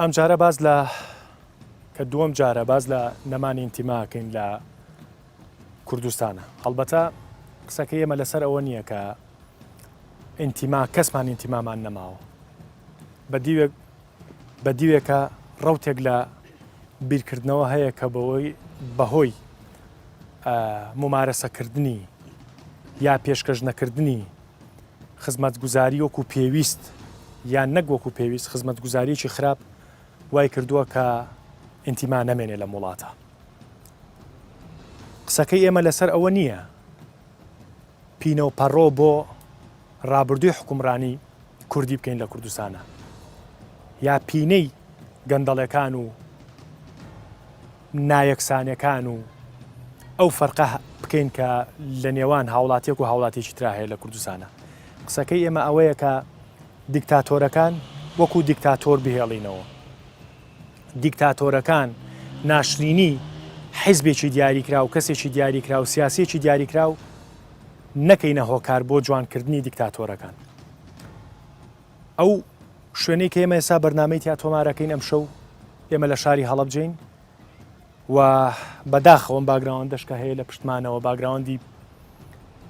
ئەمجارە باس لە کە دووەم جارە باس لە نەمانی ئینتیماکەین لە کوردستانە هەڵبەتە قسەکە ئێمە لەسەر ئەوە نییە کە ئینتیما کەسمان ئینتیمامان نەماوە بە دیوێک بە دیوێکە ڕوتێک لە بیرکردنەوە هەیە کە بەوەی بەهۆی ممارەسەکردنی یا پێشکەش نەکردنی خزمەتگوزاری وەکو پێویست یان نەک وەکو پێویست خزمەتگوزاریی خراپ وای کردووە کە ئینتیما نەمێنێ لە وڵاتە قسەکەی ئێمە لەسەر ئەوە نییە پینە و پەڕۆ بۆ ڕابردووی حکومڕانی کوردی بکەین لە کوردستانە یا پینەی گەندەڵەکان و نایەکسانیەکان و ئەو فەرقە بکەین کە لە نێوان هاوڵاتیەک و هاوڵاتیەکی ترا هەیە لە کوردستانە قسەکەی ئێمە ئەوەیە کە دیکتاتۆرەکان وەکو دیکتاتۆر بهێڵینەوە دیکتاتۆرەکان ناشرینی حیزبێکی دیاریکراو کەسێکی دیاریکراو سیاسێکی دیاریکراو نەکەینە هۆکار بۆ جوانکردنی دیکتاتۆرەکان ئەو شوێنەی کە ئێمە ئێستا بەرنمەی تیا تۆمارەکەین ئەم شەو ئێمە لە شاری هەڵبجین و بەداخەوەم باگراوان دەشکە هەیە لە پشتمانەوە باگراوەندی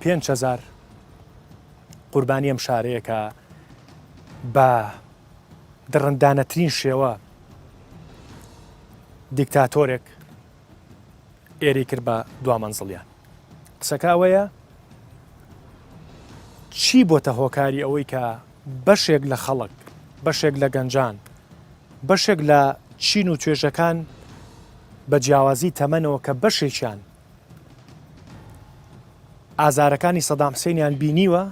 5هزار قوربانی ئەم شارەیەکە بە دڕندانەترین شێوە دیکتاتۆرێک ئێرەی کرد بە دوامەنزڵیان قسەکە ئەوەیە چی بۆتە هۆکاری ئەوەی کە بەشێک لە خەڵک بەشێک لە گەنجان بەشێک لە چین و توێژەکان بە جیاوازی تەمەنەوە کە بەشێکیان ئازارەکانی سەدام حسێنیان بینیوە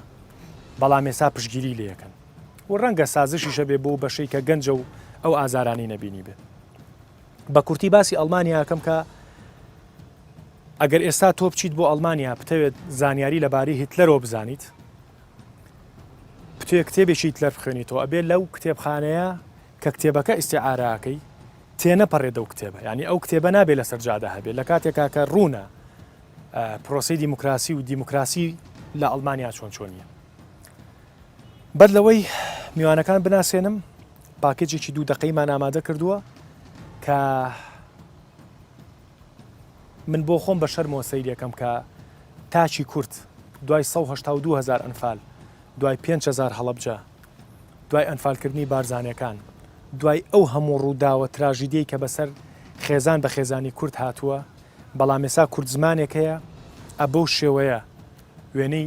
بەڵام ێسا پشگیری لەکەن و ڕەنگە سازشیشە بێ بۆ بەشەی کە گەنجە و ئەو ئازارانی نەبینی بێت بە کورتی باسی ئەڵمانیاکەم کە ئەگەر ئێستا تۆ بچیت بۆ ئەلمانیا بتەوێت زانیاری لەبارەی هیتلەرۆ بزانیت بتوێ کتێبێکی هیتلەر بخوێنیتەوە ئەبێ لەو کتێبخانەیە کە کتێبەکە ئیسعاراکەی تێنەپەڕێت ئەو کتێبە ینی ئەو کتێبە نابێت لەسەر جادە هەبێت لە کاتێکا کە ڕوونە پرۆسی دیموکراسی و دیموکراسی لە ئەلمانیا چۆن چۆنیە بەر لەوەی میوانەکان بناسێنم پاکێجێکی دوو دەقەیمان ئامادە کردووە کە من بۆ خۆم بە شەرمەوە سەیرەکەم کە تاچی کورت دوای 1970هزار ئەنفال دوای 5هزار هەڵبجە دوای ئەنفالکردنی بارزانەکان دوای ئەو هەموو ڕووداوە تراژیدی کە بەسەر خێزان بە خێزانی کورد هاتووە بەڵام ێسا کورد زمانێک هەیە ئە بەو شێوەیە وێنەی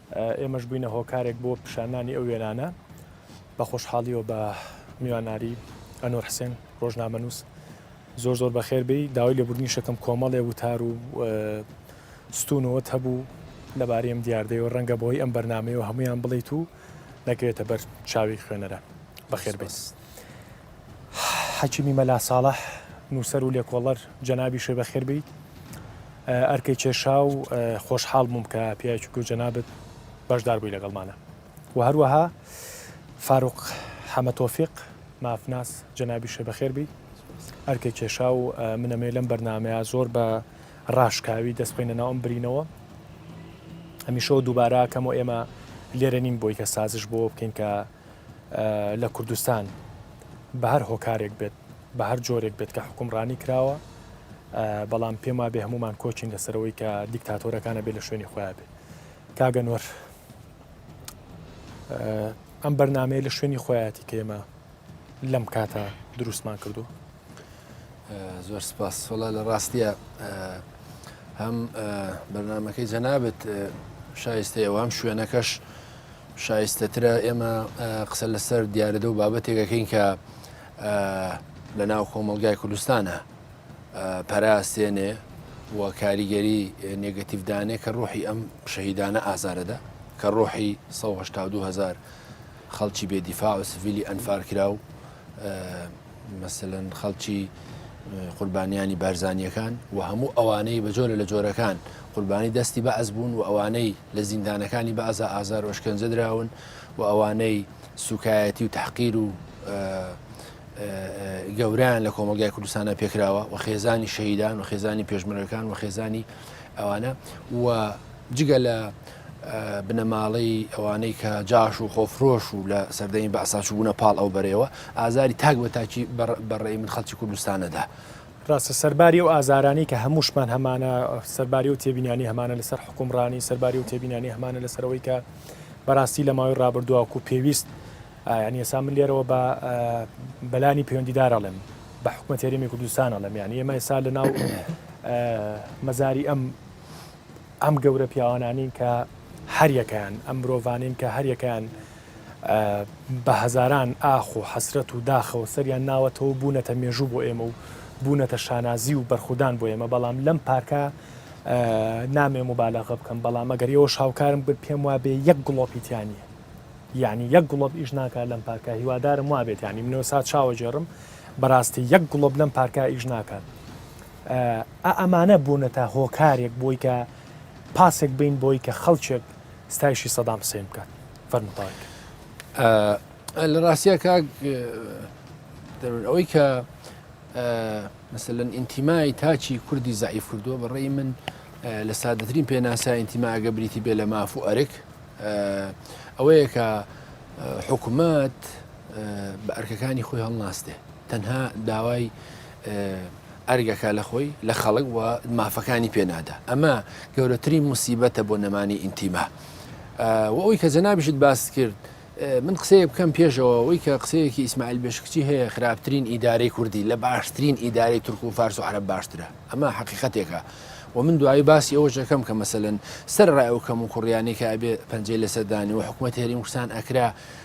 ئێمەش بووینە هۆکارێک بۆ پیشانانی ئەو وێنانە، بە خۆشحاڵیەوە بە میواناری، ئەنۆر حسێن، ڕۆژنامەنووس، زۆر زۆر بەخێر بێی، داوای لێبوردنی شەکەم کۆمەڵێ وتار و ستوون و وت هەبوو لەبارەی ئەم دیاردەیە و ڕەنگە بەهۆی ئەم بەرنامەیەوە هەموویان بڵێیت و نەکەوێتە بەر چاوی خوێنەران. بەخێر بێیت. حەکیمی مەلا ساڵح نووسەر و لێکۆڵەر جەنابی شێ بەخێر بیت ئەرکەی کێشا و خۆشحاڵ بووم کە پیاچوک و جەنابت بەشدار بووی لەگەڵمانە و هەروەها فاروق حەمە تۆفیق مافناس جەنابی شێ بەخێر بی ئەرکە کێشا و منەمێ لەم بەرنمەیە زۆر بە ڕاشکاوی دەست بخینە ناوم برینەوە هەمیشەوە دووبارە کەم و ئێمە لێرە نین بۆی کە سازش بۆ بکەین کە لە کوردستان بە هەر هۆکارێک بێت بە هەر جۆرێک بێت کە حکومڕانی کراوە بەڵام پێم وابێ هەمومان کۆچین لەسەرەوەی کە دیکتاتۆرەکانە بێ لە شوێنی خۆیان بێت کاگە نوەر ئەم بەرنمەیە لە شوێنی خۆیاتی کێمە لەم کاتە دروستمان کردو زۆر سپاس سۆڵا لە ڕاستە هەم بەرنمەکەی جەنابەت شایستە ئەوام شوێنەکەش شایستەترە ئێمە قسە لەسەر دیارەدە و بابەتێکەکەین کە لە ناو کۆمەلگای کوردستانە پەراستێنێ و کاریگەری نگەتیفدانێ کە ڕۆحی ئەم شەهیدانە ئازارەدا کە ڕۆحی 1970 هزار خەڵکی بێدیفاع و سڤیلی ئەنفارکرا و مەسەلەن خەڵکی قوربانیانی بارزانیەکان و هەموو ئەوانەی بە جۆرە لە جۆرەکان قوربانی دەستی بەعز بوون و ئەوانەی لە زیندانەکانی بەعزا ئازار وشکەنجە دراون و ئەوانەی سوکایەتی و تحقیر و گەوریان لە کۆمەلگای کوردستانە پێکراوە و خێزانی شەهیدان و خێزانی پێشمەرەکان و خێزانی ئەوانە و جگە لە بنەماڵەی ئەوانەی کە جاش و خۆفرۆش و لە سەردەمی بەعساچوو بوونە پاڵ ئەو بەرەوە ئازاری تاک بە تاکی بەڕێ من خەڵکی کوردستانەدا. ڕاستە سەرباری و ئازارانی کە هەمووشمان هەمانە سەرباری و تێبینانی هەمانە لەسەر حکومڕانی سەرباری و تێبینانی هەمانە لەسەرەوەی کە بەڕاستی لە ماوەی ڕابردوواکو و پێویست ینی ئێسا من لێرەوە بە بەلانی پەیوەندیدارەڵێم بە حکومە تێریمی کوردستانەڵێم یان ئێمە ئێسا لە ناو مەزاری ئەم ئەم گەورە پیاوانانین کە هەر یەکەیان، ئەم مرۆڤانین کە هەر یەکەیان بە هەزاران ئاخ و حەسرەت و داخەوە سەریان ناوەتەوە و بوونەتە مێژوو بۆ ئێمە و بوونەتە شانازی و بەرخودان بۆ ئێمە، بەڵام لەم پارکە نامەوێ موبالەغە بکەم، بەڵام ئەگەر ئێوەش هاوکارم بن پێم وابێ یەک گڵۆپی تیا نییە. یانی یەک گڵۆپ ئیش ناکات لەم پارکە، هیوادارم وابێت یانی منۆسا چاوەجێڕم، بەراستی یەک گڵۆپ لەم پارکە ئیش ناکات. ئا ئەمانە بوونەتە هۆکارێک بۆی کە پاسێک بین بۆی کە خەڵکێک ستایشی سەدام حسێن بکات فەرمتاک لە ڕاستە کاک ئەوەی کە مثلەن ئینتیمای تاچی کوردی زعیف کردووە بەڕێی من لە سادەترین پێناسا ئینتیماگە بریتی بێ لە ماف و ئەرک ئەوەیە کە حکوومەت بە ئەرکەکانی خۆی هەڵناستێ تەنها داوای ئەرگەکە لە خۆی لە خەڵک و مافەکانی پێ نادا ئەمە گەورەترین موسیبەتە بۆ نەمانی ئینتیما و ئەوی کە جەنابیشت باست کرد من قسەیە بکەم پێشەوە ئەوی کە قسەیەکی ئیسماعیل بێشکچی هەیە خراپترین ئیدارەی کوردی لە باشترین ئیدارەی تورک و فارس و عرب باشترە ئەمە حقیقەتێکە و من دوایی باسی ئەوە جەکەم کە مەسەن سەر ڕای ئەو کەم و کوڕیانێکە ئەبێ پەنجەی لەسەردانی و حکوومەت هێریم کوردستان ئەکرا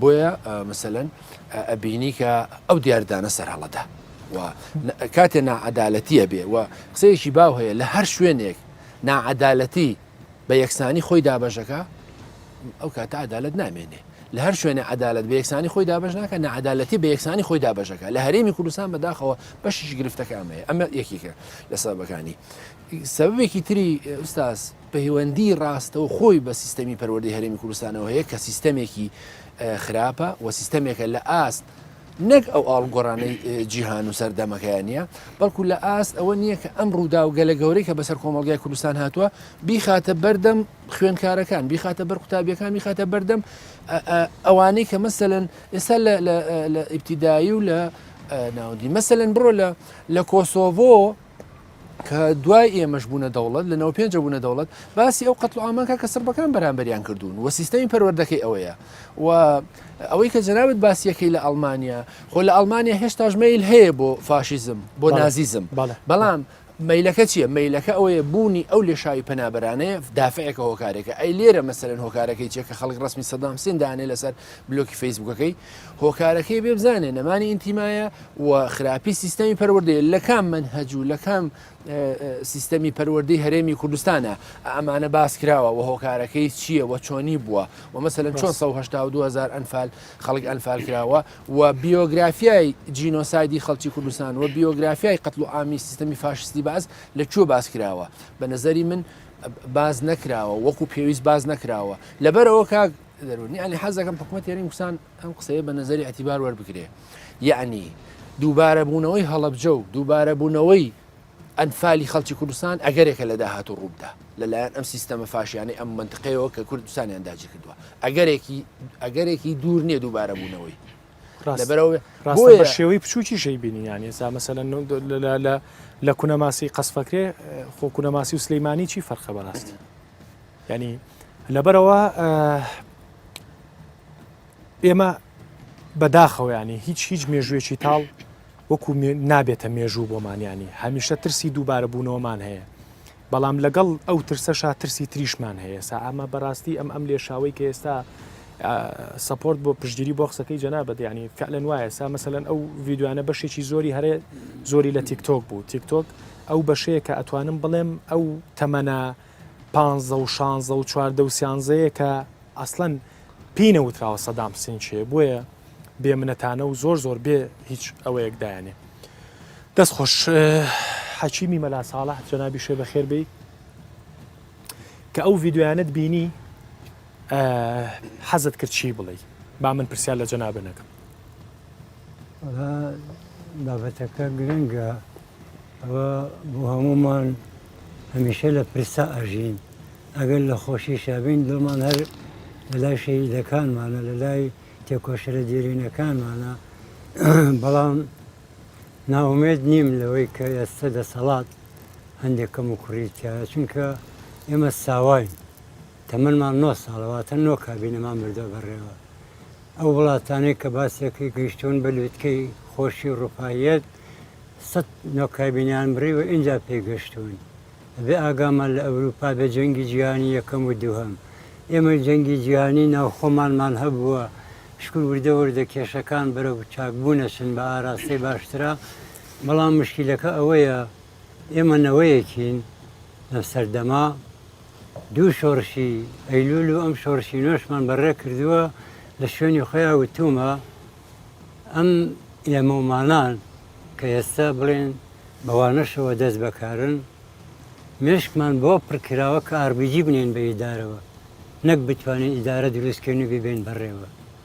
بۆیە مثلەن ئەبینی کە ئەو دیاردانە سەر هەڵەدا و کاتێ ناعادالەتیە بێ و قسەیەکی باو هەیە لە هەر شوێنێک ناعادالەتی بە یەکسانی خۆی دابەژەکە ئەو کاتە عدالت نامێنێ لە هەر شوێنە عدالت بە یەکسانی خۆی دابش ناکە نەعادالەتی بە یەکسانی خۆی دابژەکە لە هەرێمی کوردستان بەداخەوە بەشیش گرفتەکە ئەمەیە ئەمە یەکیکە لە سەبەکانی سەبێکی تری ئوستاز پەیوەندیی ڕاستەوخۆی بە سیستەمی پەروەردەی هەرێمی کوردستانەوە هەیە کە سیستەمێکی خراپە و سیستەمێکە لە ئاست نەک ئەو ئاڵوگۆڕانەی جیهان و سەردەمەکەیان نییە، بەڵکو لە ئاست ئەوە نییە کە ئەم ڕوودا و گەلە گەورەی کە بەسەر کۆمەڵگای کوردستان هاتووە بیخاتە بەردەم خوێنکارەکان بیخاتە بەر قوتابیەکان بیخاتە بەردەم ئەوانەی کە مەسەن ئێستا لە ئیبتیدایی و لە ناودی مەسەن بڕۆ لە لە کۆسۆڤۆ کە دوای ئێمەش بوونە دەوڵەت لە نەوە پێنجە بوونە دەوڵەت باسی ئەو قەتڵ ئامانکە کە سربەکان بەرامبەریان کردوون و سیستەمی پەروەردەکەی ئەوەیە و ئەوەی کە جەنابەت باسیەکەی لە ئەلمانیا خۆ لە ئەلمانیا هێشتاش میل هەیە بۆ فاشیزم بۆ نازیزم بەڵام مەیلەکە چییە مەیلەکە ئەوەیە بوونی ئەو لێشاوی پەنابەرانەیە دافعێکە هۆکارێکە ئەی لێرە مەسەرن هۆکارەکەی چێکە خەڵک ڕسمی سەدام سندانێ لەسەر بلوکی فەیسبوکەکەی هۆکارەکەی بێ بزانێ نەمانی ئینتیمایە و خراپی سیستەمی پەروەردەیە لە کام منهەج و لە کام سیستەمی پەروەردەی هەرێمی کوردستانە ئەمانە باس کراوە و هۆکارەکەی چییە و چۆنی بووە و مەسەن 1970هزار ئەنفال خەڵک ئەنفال کراوە و بیۆگرافیای جینۆسایدی خەڵکی کوردستان و بیۆگرافیای قەتل و ئامی سیستەمی فاشستی باز لە کوێ باس کراوە بە نظری من باز نەکراوە وەکو پێویست باز نەکراوە لەبەرەوە کاک دەرون یانی حەز دەکەم حکوومەت یانی وسان ئەم قسەیە بە نظری ئەتیبار وەربگرێ یعنی دووبارە بوونەوەی هەڵبجە و دووبارە بوونەوەی ئەنفالی خەڵکی کوردستان ئەگەرێکە لە داهات و ڕووبدا لەلایەن ئەم سیستەمە فاشیانەی ئەم منتقەیەوە کە کوردستانیان داجی کردووە ئەگەرێکی ئەگەرێکی دوور نییە دووبارە بوونەوەی لەبەرەوە ڕاستە شێوەی بچووکیشەی بینی یان ئێستا مەسەل لە کونەماسی قەسفەکرێ خۆ کونەماسی و سلەیمانی چی فەرخە بەڕاستی یانی لەبەرەوە ئێمە بەداخەوەیانی هیچ هیچ مێژوێکی تاڵ وەکو نابێتە مێژوو بۆمانیانی هەمیشە ترسی دووبارە بوونەوەمان هەیە بەڵام لەگەڵ ئەو ترسەشا ترسی تریشمان هەیە سا ئەمە بەڕاستی ئەم ئەم لێشاوی کە ئێستا سپۆرت بۆ پشتگیری بۆ قسەکەی جەنا بەدیانی فعلەن وایە سا مەسەن ئەو یددیوانە بەشێکی زۆری هەرێ زۆری لە تیکتۆک بوو تیکتۆک ئەو بەشەیە کە ئەتوانم بڵێم ئەو تەمەنە پانزە و شانزە و چواردە و سیانزەیە کە ئەسڵەن پێی نەوتراوە سەدام حسین چێ بۆیە بێ منەتانە و زۆر زۆر بێ هیچ ئەوەیەک دایانێ دەست خۆش حەکیمی مەلا ساڵح جەنابی شێ بە خێربی کە ئەو ڤیددیویانت بینی حەزت کرد چی بڵێ با من پرسیار لە جەنابە نەکەم وەڵا بابەتەکە گرنگە ئەوە بۆ هەموومان هەمیشە لە پرسا ئەژین ئەگەر لە خۆشیشا بین دڵمان هەر لە لای شەهیدەکانمانە لە لای تێکۆشەرە دێرینەکانمانە بەڵام ناومێت نیم لەوەی کە ئێستا دەسەڵات هەندێک کەم و کوڕیتیایە چونکە ئێمە ساواین تەمەنمان نۆ ساڵە واتە نۆ کابینەمان بردووە بەڕێوە. ئەو وڵاتانەی کە باسێکی گەیشتوون بە لووتکەی خۆشی ڕووپاییەت سەد نۆ کابینەیان بڕی و ئینجا پێی گەشتوون. ئەبێ ئاگامان لە ئەورووپا بێ جەنگی جیهانی یەکەم و دووهەم. ئێمەی جەنگی جیهانی ناوخۆمانمان هەبووە شکور وردە وردە کێشەکان بەرەو چاکبوون ئەچن بە ئاراستەی باشترا بەڵام مشکیلەکە ئەوەیە، ئێمە نەوەیەکین لەم سەردەمە دوو شۆڕشی ئەیلول و ئەم شۆڕشی نۆشمان بەڕێ کردووە لە شوێنی خۆیان وتومە ئەم ئێمەمانان کە ئێستا بڵێن بەوانەشەوە دەست بەکارن مێشکمان بۆ پڕکراوە کە ئاربیجی بنێن بە ئیدارەوە نەک بتوانین ئیدارە دروستکەین و ببێن بەڕێوە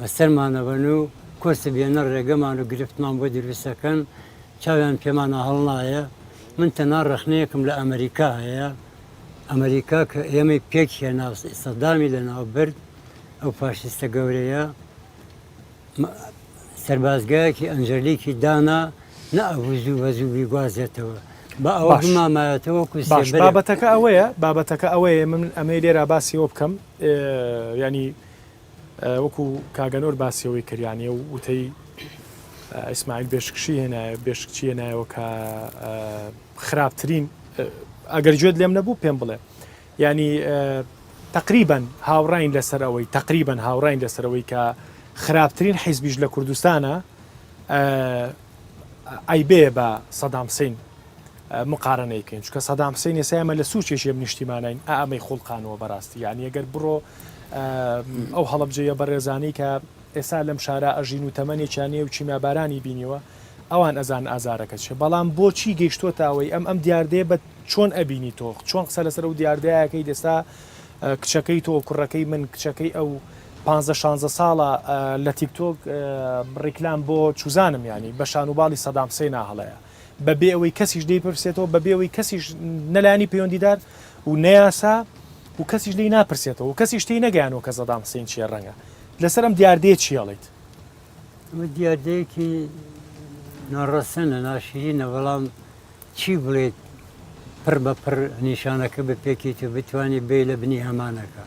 بەسەرمان ئەبەن و کۆسپ بێنە ڕێگەمان و گرفتمان بۆ دروست ئەکەن، چاویان پێمانا هەڵنایە، من تەنها ڕەخنەیەکم لە ئەمەریکا هەیە، ئەمەریکا کە ئێمەی پێک هێنا و سەدامی لە ناو برد، ئەو فاشیستە گەورەیە سەربازگایەکی ئەنجەلیکی دانا نە ئەبوو زوو بە زوو بیگوازێتەوە، با ئەوە باش بمامایەتەوە وەکو باش سێبەرێک. بابەتەکە ئەوەیە بابەتەکە ئەوەیە من ئەمەی لێرا باسی ئەوە بکەم اه یانی، وەکو کاک ئەنۆر باسی ئەوەی کریانە و وتەی ئیسماعیل بێشکشی هێنایە بێشکچی هێنایەوە کە خراپترین ئەگەر گوێت لێم نەبوو پێم بڵێ ینی تقریبن هاوڕین لەسەرەوەی تقریبن هاوڕین لەسەرەوەی کە خراپترین حیزبیش لە کوردستانە ئەیبێ بە سەدامسین مقارەنەی کەین چونکە سەدام حسین ئێستا ئێمە لە سوچێکی ئەم نیشتیمانین ئا ئەمەی خوڵقانەوە بەراستی یعنی ئەگەر بڕۆ ئەو هەڵەبجەیە بەڕێزانەی کە ئێستا لەم شارە ئەژین و تەمەنێکیان نیە و کیمیابارانی بینیوە ئەوان ئەزان ئازارەکە چیە بەڵام بۆچی گەیشتووەتە ئەوەی ئەم ئەم دیاردەیە بە چۆن ئەبینی تۆ چۆن قسە لەسەر ئەو دیاردەیەکەی دەستا کچەکەی تۆ کوڕەکەی من کچەکەی ئەو 15 16 ساڵە لە تیکتۆک ڕیکلام بۆ چوزانم ینی بە شانوباڵی سەدام حسێنا هەڵەیە بە بێ ئەوەی کەسیش لی پرسێتەوە بە بێ ئەوەی کەسیش نەلانی پەیوەندیدار و نەیاسا و کەسیش لی ناپرسێتەوە و کەسیش تی نەگەیانەوە کە زەدام حسین چیە ڕەنگە لەسەر ئەم دیاردەیە چیڵیت ئەمە دیاردەیەکی ناڕەسەنە ناشرینە بەڵام چی بڵێت پڕ بە پڕ نیشانەکە بپێکیت و بتانی بێ لە بنی ئەمانەکە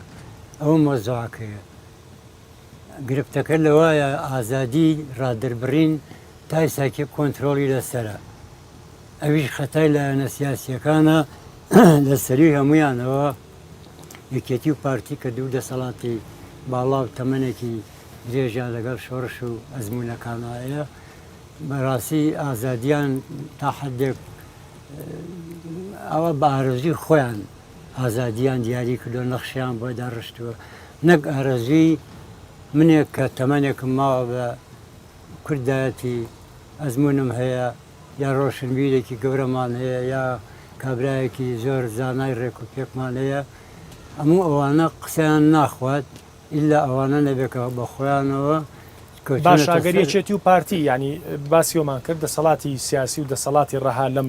ئەوە مۆزەکەیە گرفتەکە لەوایە ئازادی ڕادەربڕین تایساکێک کۆنترۆڵی لەسەرە ئەویش خەتای لایەنە سیاسیەکانە لە سەروی هەمویانەوە یەکێتی و پارتی کە دوو دەسەڵاتی باڵا و تەمەنێکی درێژە لەگەڵ شۆڕش و ئەزمونونەکانایە بەڕاستی ئازادیان تا حدێک ئەوە بە ئارەزوی خۆیان ئازادیان دیاری کردووە، نەخشەیان بۆ داڕشتووە، نەک ئارەزووی منێک کە تەمەنێکم ماوە بە کوردایەتی ئەزموونم هەیە یا ڕۆشنبیرێکی گەورەمان هەیە یا کابرایەکی زۆر زانای ڕێک و پێکمان هەیە، هەموو ئەوانە قسەیان ناخوات ئیلا ئەوانە نەبێت کە بە خۆیانەوە کەوتوونەتە سەر. باشە ئەگەر یەکێتی و پارتی یانی باسی ئەومان کرد دەسەڵاتی سیاسی و دەسەڵاتی ڕەها لەم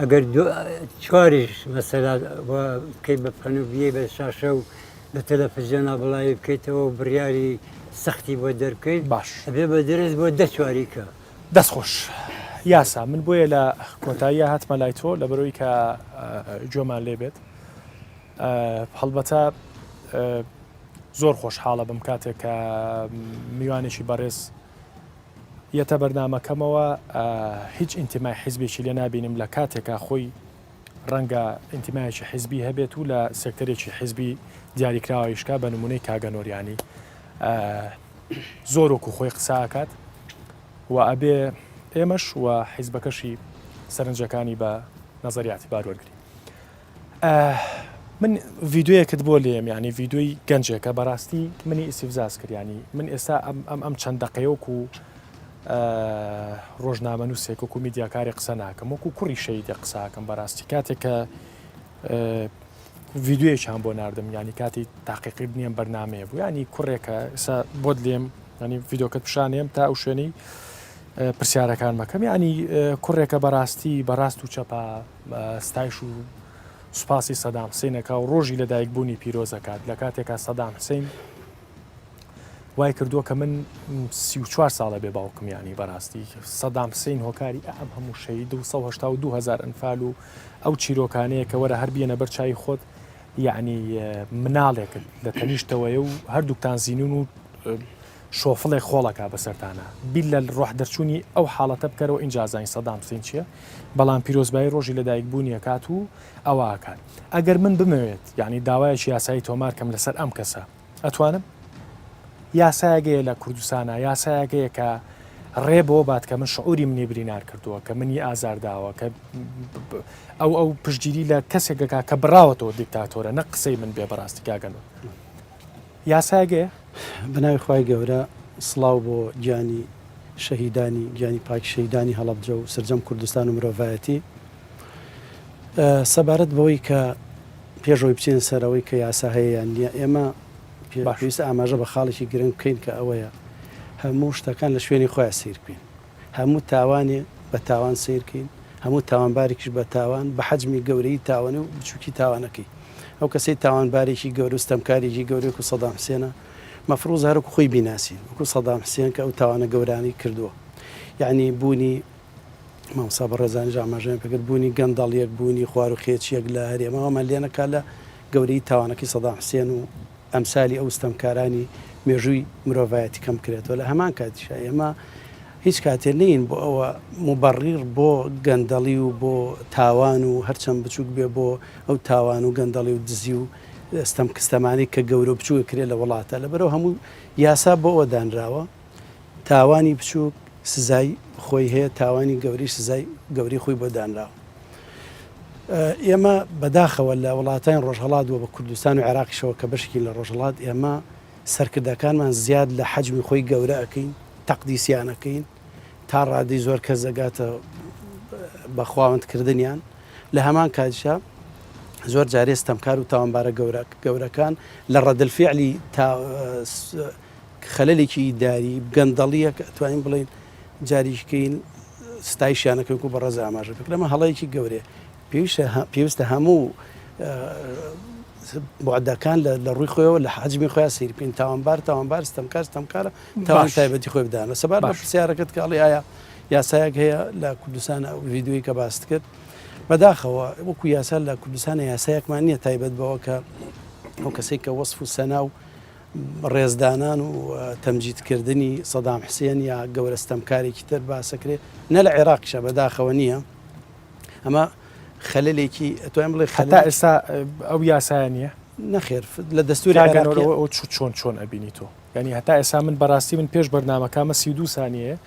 ئەگەر چواریش مەسەلا بکەیت بە پەن و بیێ بە شاشە و لە تەلەفزیۆنا بڵاوی بکەیتەوە و بڕیاری سەختی بۆ دەرکەیت باش بێ بە درێت بۆ دە چواریکە دەستخۆش یاسا من بۆیە لە کۆتاییە هاتمە لای تۆ لە بەرەوەی کە جۆمان لێ بێت هەڵبەتە زۆر خۆشحاڵە بم کاتێک کە میوانێکی بەڕێز یەتە بەرنامەکەمەوە هیچ ئینتیمای حیزبێکی لێ نابینم لە کاتێکا خۆی ڕەنگە ئینتیمایەکی حیزبی هەبێت و لە سێکتەرێکی حیزبی دیاریکراوەیشکا بە نمونەی کاگەنۆریانی زۆر وەکو خۆی قساکات و ئەبێ ئێمەش و حیزبەکەشی سەرنجەکانی بە نظریاتی بار وەرگری من ڤیدۆیەکت بۆ لێم یعنی ڤیدۆی گەنجێکە بەڕاستی منی ئیسیفزاز کردیانی من ئێستا ئەم ئەم ئەم چەند دقەیەوەکو و ڕۆژنامە نووسێک وکو میدیاکاری قسە ناکەم وەکو کوڕی شەیدە قساکەم بەڕاستی کاتێک کە ڤیددیوەیەکیان بۆ نردم ینی کاتی تاقیقی بنیێم بەرنمەیە بوو ینی کوڕێکە ئسا بۆت لێم ینی ڤیدۆکە پیشانێم تا ئەو شوێنی پرسیارەکان مەکەم ینی کوڕێکە بەڕاستی بەڕاست و چەپە ستایش و سوپاسی سەدام حسین ئەکا و ڕۆژی لە دایک بوونی پیرۆز ئەکات لە کاتێکا سەدام حسین وای کردووە کە من سی و چوار ساڵە بێ باوکمیانی بەڕاستی سەدام حسین هۆکاری ئەم هەموو شەید و 1970هزار ئەنفال و ئەو چیرۆکانەیە کە وەرە هەر بیەنە بەر چای خۆت یعنی مناڵێکت لە تەنیشتەوەی و هەردووکتان زیینون و شۆفڵێک خۆڵ ئەکا بەسەرتانا بیللە ڕۆح دەرچوونی ئەو حاڵەتە بکەرەوە ئینجا ئەزانی سەدام حسین چیە بەڵام پیرۆزبایی ڕۆژی لەدایک بوونی ئەکات و ئەوە ئەکات ئەگەر من بمەوێت یانی داوایەکی یاسایی تۆمار کەم لەسەر ئەم کەسە ئەتوانم یاسایەک هەیە لە کوردستانا یاسایەک هەیە کە ڕێ بۆ بات کە من شعوری منی برینار کردووە کە منی ئازارداوە کە ئەو ئەو پشتگیری لە کەسێکەکە کە بڕاوەتەوە دیکتاتۆرە نە قسەی من بێ بەڕاستی کاگەن یاسایەک هەیە؟ بەناوی خوای گەورە سڵاو بۆ گیانی شەهیدانی گیانی پاکی شەهیدانی هەڵەبجە و سەرجەم کوردستان و مرۆڤایەتی سەبارەت بەوەی کە پێش ئەوی بچین سەرەوەی کە یاسا هەیە یان نییە ئێمە پێویستە ئاماژە بە خاڵێکی گرنگ بکەین کە ئەوەیە هەموو شتەکان لە شوێنی خۆیان سەیر بکەین. هەموو تاوانێ بە تاوان سەیر کەین، هەموو تاوانبارێکیش بە تاوان، بە حەجمی گەورەیی تاوانێ و بچووکی تاوانەکەی. ئەو کەسەی تاوانبارێکی گەورە و ستەمکارێکی گەورەی وەکوو سەدام حسێنە، مەفرووزە هەر وەکوو خۆی بیناسین وەکوو سەدام حسێن کە ئەو تاوانە گەورانەی کردووە. یەعنی بوونی مامۆستا بەڕێزانیش ئاماژەیان پێ کرد، بوونی گەندەڵییەک، بوونی خواروخێچییەک لە هەرێمەوە ئەمان لێ نەکا لە گەورەیی تاوانەکەی سەدام حسێن و ئەمسالی ئەو ستەمکارانی مێژووی مرۆڤایەتی کەم کرێت و لە هەمان کاتیشا ئێمە هیچ کاتێ نین بۆ ئەوە مبڕیر بۆ گەندەڵی و بۆ تاوان و هەرچەند بچووک بێ بۆ ئەو تاوان و گەندەڵی و دزی و ستەم کستەمانی کە گەورە بچووە کرێ لە وڵاتە لە بەرەو هەموو یاسا بۆ ئەوە دانراوە تاوانی بچووک سزای خۆی هەیە تاوانی گەوریش سزای گەوری خۆی بۆ دانراوە ئێمە بەداخەوە لە وڵاتانی ڕۆژهڵات بۆ بە کوردستان و عێراقیشەوە کە بەشکی لە ڕۆژهڵات ئێمە سەرکردەکانمان زیاد لە حەجمی خۆی گەورە ئەەکەین تەقدیسیانەکەین تا ڕادی زۆر کەس دەگاتە بەخواوەندکردنیان لە هەمان کاتشە زۆر جارێ ستەمکار و تاوانبارە گەورە گەورەکان لە ڕەدلفعلی خەلەلێکی ئیداری گەندەڵیە کە ئەتوانین بڵێین جاریکی کەین ستایشیان نەکەین کو بەڕێز ئاماژە کرد لەمە هەڵەیەکی گەورەیە پێویستە هە پێویستە هەموو بۆعداکان لە ڕووی خۆیەوە لە حاجمی خۆیان سیر بکەین تاوانبار تاوانبار ستەمکار ستەمکارە تاوان تایبەتی خۆی بدانە سەبار بە پرسیارەکەت کاڵی ئایا یاسایەک هەیە لە کوردستان ئەو ویددیوی کە باست کرد بەداخەوە وەکو یاسا لە کوردستانە یاسایەکمان نییە تایبەت بەوە کە ئەو کەسێک کە وەصف و سەنا و ڕێزدانان و تەمجید کردنی سەدام حسێن یا گەورە ستەمکارێکی تر باسەکرێ نە لە عێراقیشە بەداخەوە نییە ئەمە خەلێکی ئەتوان بڵێ خەتا ئێستا ئەو یاسایە نییە نەخێر لە دەستوری چۆن چۆن ئەبینی تۆ ینی هەتا ئێسا من بەڕاستی من پێش بەرنمەکەمە سی دو سانیە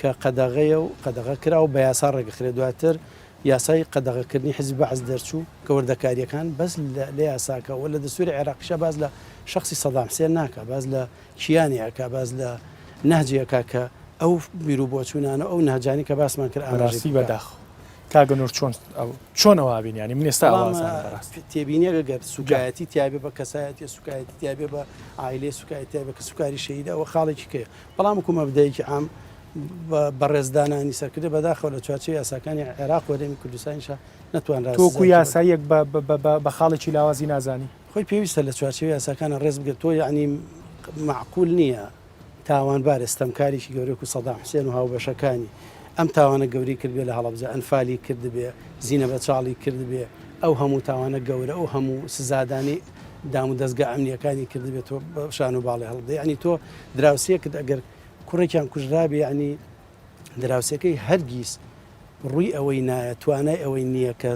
کە قەدەغەیە و قەدەغە کرا و بە یاسا ڕێکدەخرێت، دواتر یاسای قەدەغەکردنی حیزبی بەعس دەرچوو کە وردەکارییەکان بەس لە یاساکە و لە دەستووری عێراقیشا باس لە شەخسی سەدام حسێن ناکا، باس لە کیانی ئەکا، باس لە نەهجی ئەکا کە ئەو بیروبۆچوونانە و ئەو نەهجانەی کە باسمان کرد ئاماژەی پێ بکا. کاک ئەنوەر چۆن ئەو، چۆن ئەوە ئابینی یانی من ئێستا ئەوە ئازانم بەڕاستی. بەڵام تێبینییەک ئەگەر سووکایەتی تیابێ بە کەسایەتی، سووکایەتی تیابێ بە عایلەی، سووکایەتی تیابێ کە سووکاری شەهیدە ئەوە خاڵێکی کەیە، بەڵام وەکو مەبدەیەکی عام بەڕێز دانانی سەرکردە بەداخەوە لە چوارچێ یاساکانی عێراق وەرێمی کوردستانیشە نتوانرا تۆکو یاساییەک بە خاڵێکی لاوازی نازانی خۆی پێویستە لە چوارچێ یاساکانە ڕێز بگرێت تۆ یعنی معقول نییە تاوانبار ئێستەمکاریی گەورەێک و سەدا حسێن و هاوبەشەکانی ئەم تاوانە گەوری کردێ لە هەڵبجە ئەنفالی کردبێ زیینە بە چاڵی کردبێ ئەو هەموو تاوانە گەورە ئەو هەموو سزادانی دام و دەزگا ئەمنیەکانی کردبێت تۆ شان و باڵێ هەڵدە یعنی تۆ دراوسێکت ئەگەر کوڕێکیان کوژرابێ ینی دراوسەکەی هەرگیز ڕووی ئەوەی نایە توانای ئەوەی نییە کە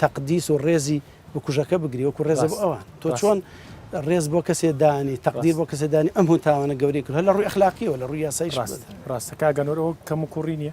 تەقدیس و ڕێزی بکوژەکە بگری وەکو ڕێزە بۆ ئەوان تۆ چۆن ڕێز بۆ کەسێ دانی تەقدیر بۆ کەسێ دانی ئەم هەتاوانە گەوری کرد لە ڕووی اخلاقیەوە لە ڕووی یاسای ڕاست ڕاستەکە گەنۆرەوە کەم و کوڕی نیە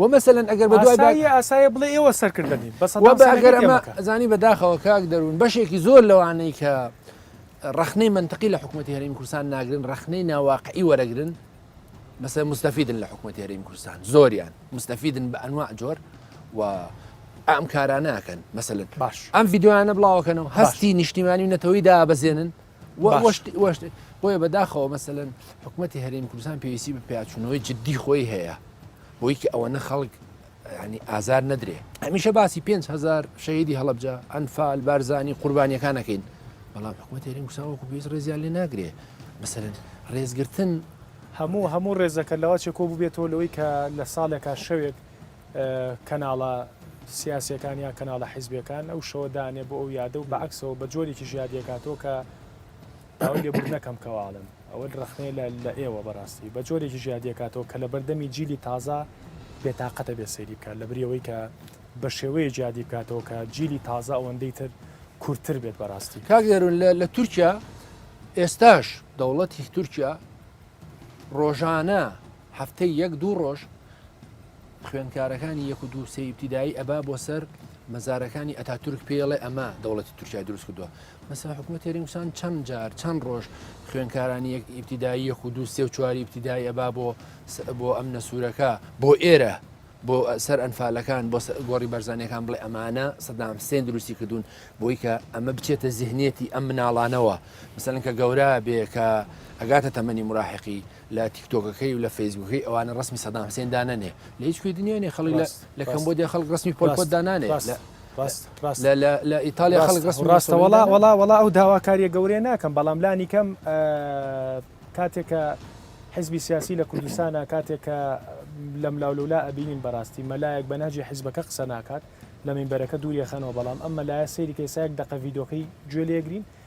وە مەسەلەن ئەگەر بە دوای ئاسایە بڵێ ئێوە سەرکردە نین بەسە زانی بەداخەوە کاک دەروون بەشێکی زۆر لەوانەی کە ڕخنەی منتەقی لە حکوومەتتی هەرمی کوردستان ناگرن ڕخنەی ناواقعی وەرەگرن بەسە مستەفیدن لە حکوومەتتی هەرمی کوردستان زۆریان مستەفیدن بە ئەنوا جۆر و ئەم کارانەکەن مەسلن باش ئەم یددیوانە بڵاوکەنەوە هەستی نیشتیمانی و نەتەوەی دابەزێنن بۆیە بەداخەوە مەسەن حکوومەتتی هەرێم کوردستان پێویستی بە پیاچوونەوەی جددی خۆی هەیە بۆی کە ئەوە نە خەڵک ینی ئازار نەدرێ هەمیشە باسی 5هزار شەیدی هەڵبجە ئەنفال بارزانانی قوربانیەکانەکەین بەڵام حکوومەت هەرێم کوردستان وەکو پێویست ڕێزیان لێ ناگرێ مەسەن ڕێزگرتن هەموو هەموو ڕێزەکە لەوە چێکۆ ببێتەوە لەوەی کە لە ساڵێکا شەوێک کەناڵە سیاسیەکان یان کەناڵە حیزبیەکان ئەو شەوە دانێ بۆ ئەو یادە و بەعکسەوە بە جۆرێکی ژادیەکاتەوە کە ئەوەی لێبوو نەکەم کەواڵم ئەوە ڕخنەیە لە لە ئێوە بەڕاستی بە جۆرێکی ژادیەکاتەوە کە لە بەردەمی جیلی تازە بێتاقەتە بێ سەیری بکات لە بریەوەی کە بە شێوەیە جیادی بکاتەوە کە جیلی تازە ئەوەندەی تر کورتتر بێت بەڕاستی کاگەرون لە تورکیا ئێستاش دەوڵەتی تورکیا ڕۆژانە هەفتەی یەک دوو ڕۆژ خوێندکارەکانی یەک و دوو سێ ئیبتیدایی ئەبا بۆ سەر مەزارەکانی ئەتا تورک پێڵێ ئەمە دەوڵەتی تورکای دروست کردووە مەسا حکوومەت تێرینگسان چەند جار چەند ڕۆژ خوێندکارانی یەک ئیبتیدایی یەک و دوو سێ و چواری ئیبتیدایی ئەبا بۆ بۆ ئەم نەسوورەکە بۆ ئێرە بۆ سەر ئەنفالەکان بۆ گۆڕی بەرزانەکان بڵێ ئەمانە سەدام سێن دروستی کردوون بۆی کە ئەمە بچێتە زیهنیەتی ئەم مناڵانەوە مثلەن کە گەورە بێ کە ئەگاتە تەمەنی مراحقی لە تیکتۆکەکەی و لە فەیسبووکەی ئەوانە ڕەسمی سەدام حسێن دانەنێ لە هیچ کوێی دنیا نیە خەڵک لە کەمبۆدیا خەڵک ڕەسمی پۆل پۆت دانانێ لە ئیتالیا خەڵک ڕەسمی ڕاستە وڵا وڵا وڵا ئەو داواکاریە گەورەیە ناکەم بەڵام لانی کەم کاتێکە حزبی سیاسی لە کوردستانە کاتێکە لەم لاولولا ئەبینین بەڕاستی مەلایەک بە ناجی حیزبەکە قسە ناکات لە مینبەرەکە دووریەخەنەوە بەڵام ئەم مەلایە سەیری کەسایەک دەقە ڤیدۆکەی گوێ لێگرین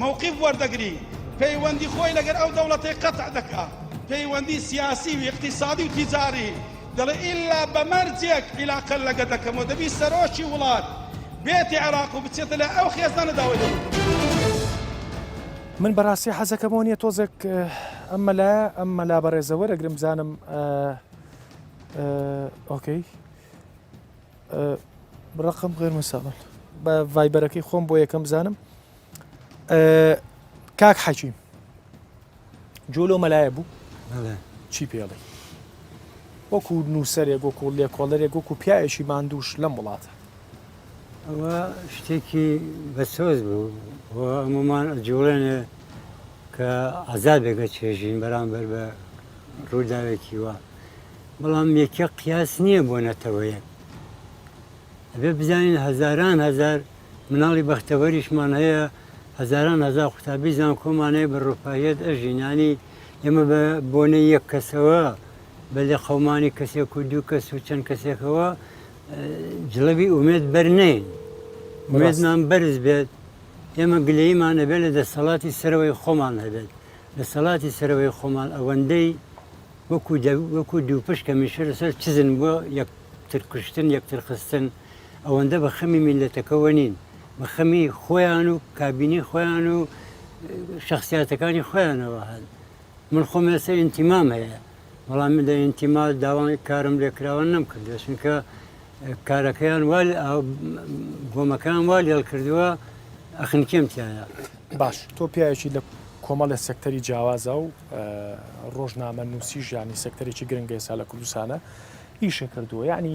مەوقیف وەردەگری پەیوەندی خۆی لەگەر ئەو دەوڵەتەی قەتع دەکا پەیوەندی سیاسی و ئیقتیسادی و تیجاری دەڵێ ئیلا بە مەرجێک عیلاقە لەگە دەکەم و دەبی سەرۆکی وڵات بێتە عێراق و بچێتە لای ئەو خێزانە داوای لێ بکەم. من بەراستی حەزەکەم ئەوە نیە تۆزێک ئەم مەلایە ئەم مەلا بەرێزە وەرەگرم بزانم ئۆکەی ڕقم غێر مساون بە ڤایبەرەکەی خۆم بۆ یەکەم بزانم کاک حەکیم جۆ لەو مەلایە بوو چی پێڵێ وەکو نووسەرێک وەکو لێکۆڵەرێک وەکو پیاەکی ماندووش لەم وڵاتە ئەوە شتێکی بەسۆز بوو هەمومان جوڵێنێ کە عذابێکە چێژین بەرامبەر بە ڕووداوێکی وە بەڵام یەکە قیاس نییە بۆ نەتەوەیە ئەبێ بزانین هەزاران هزار مناڵی بەختەوەریشمان هەیە، هەزاران هەزار قوتابی زانکۆمان هەیە بە رفاهیەت ئەژین، یانی ئێمە بە بۆنەی یەک کەسەوە، بە لێقەومانی کەسێک و دوو کەس و چەند کەسێکەوە جڵەوی ئومێد بەر نەین، ئومێدمان بەرز بێت، ئێمە گلەییمان ئەبێت لە دەستەڵاتی سەرەوەی خۆمان هەبێت، دەستەڵاتی سەرەوەی خۆمان ئەوەندەی وەکو دووپشک هەمیشە لەسەر چزن بۆ یەکتر کوشتن، یەکتر خستن. ئەوەندە بە خەمی میللەتەکەوە نین، بە خەمی خۆیان و کابینەی خۆیان و شخصیاتەکانی خۆیانەوە هەن. من خۆم ئێستا ئینتیمام هەیە، بەڵام لە ئینتیما داوای کارم لێکراوە نەمکردووە، چونکە کارەکەیان وا گۆمەکەیان وا لێڵ کردووە ئەخنکێم تیایا. باش تۆ پیاوێکی لە کۆمەڵێ سێکتەری جیاوازە و ڕۆژنامەنووسیش یانی سێکتەرێکی گرنگە ئێستا لە کوردستانە ئیشە کردووە یعنی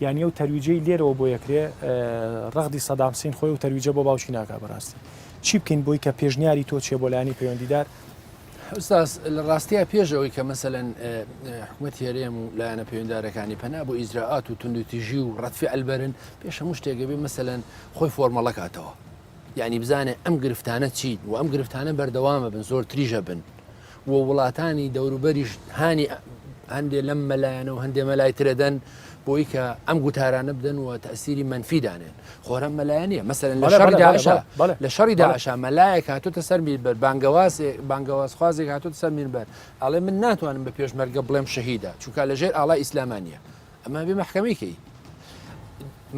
یانی ئەو تەرویجەی لێرەوە بۆی ئەکرێ ڕەغدی سەدام حسین خۆی و تەرویجە بۆ باوکی ناکا بەڕاستی چی بکەین بۆی کە پێشنیاری تۆ چێ بۆ لایانی پەیوەندیدار ئوستاز لە ڕاستیە پێشەوەی کە مەسەەن حکومەت هێرێم و لایەنە پەیوەندارەکانی پەنا بۆ ئیزراعات و تونندتیژی و ڕەتفی ئەلبەرن پێش هەموو شتێکەبێ مەسەەن خۆی فۆرمەڵەکاتەوە یعنی بزانێ ئەم گرفتانە چیت و ئەم گرفتانە بەردەوامە بن زۆر تریژە بن و وڵاتانی دەوروبەریش هانی هەندێ لەم مەلایەنە و هەندێ مەلای ترەدەن بۆی کە ئەم گوتارانە بدەن و تەسیری منفی دانێن خۆرە مەلایەنە مەسەر لە شەڕی داعشا لە شەڕی داعشا مەلایەک هاتوتە سەر میربەر بانگەوازێ بانگەوازخوازێک هاتوتە سەر میربەر ئەڵێ من ناتوانم بە پێشمەرگە بڵێم شەهیدا چونکە لەژێر ئاڵا ئیسلامانە ئەمە بێ مەحکەمەی کەی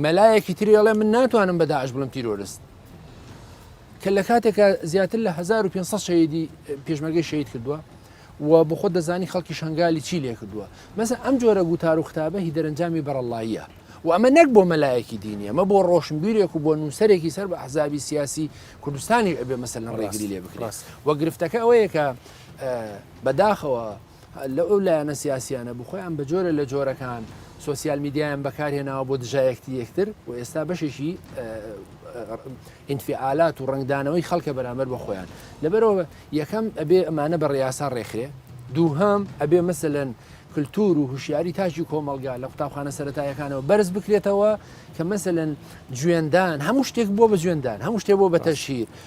مەلایەکی تری ئەڵێ من ناتوانم بە داعش بڵم تیرۆرست کە لە کاتێکە زیاتر لە 1500 شەیدی پێشمەگەی شەید کردووە و بخۆ دەزانی خەڵکی شنگالی چی لێ کردووە مەسە ئەم جۆرە گوتار و قوتابە هی دەرەنجامی بەرەڵاییە و ئەمە نەک بۆ مەلایەکی دینی ئەمە بۆ ڕۆشنبیرێک و بۆ نووسەرێکی سەر بە حزابی سیاسی کوردستانی ئەبێ مەسەر لە ڕێگری لێ بکرێت وە گرفتەکە ئەوەیە کە بەداخەوە لە ئەو لایەنە سیاسیانە بوو خۆیان بە جۆرە لە جۆرەکان سوسیال میدیایان بەکارهێناوە بۆ دژایەکتی یەکتر و ئێستا بەشێکی ئینفعالات و ڕنگدانەوەی خەڵکە بەرامبەر بە خۆیان لەبەرەوە یەکەم ئەبێ ئەمانە بە ڕاستان ڕێکخرێ دووهام ئەبێ مەسەن کللتور و هوشیاری تاجی کۆمەلگا لە قوتابخانە سەتایەکانەوە بەرز بکرێتەوە کە مەسەن جوێندان هەموو شتێک بۆ بە جوێندان هەموو شتێ بۆ بە تەشهیر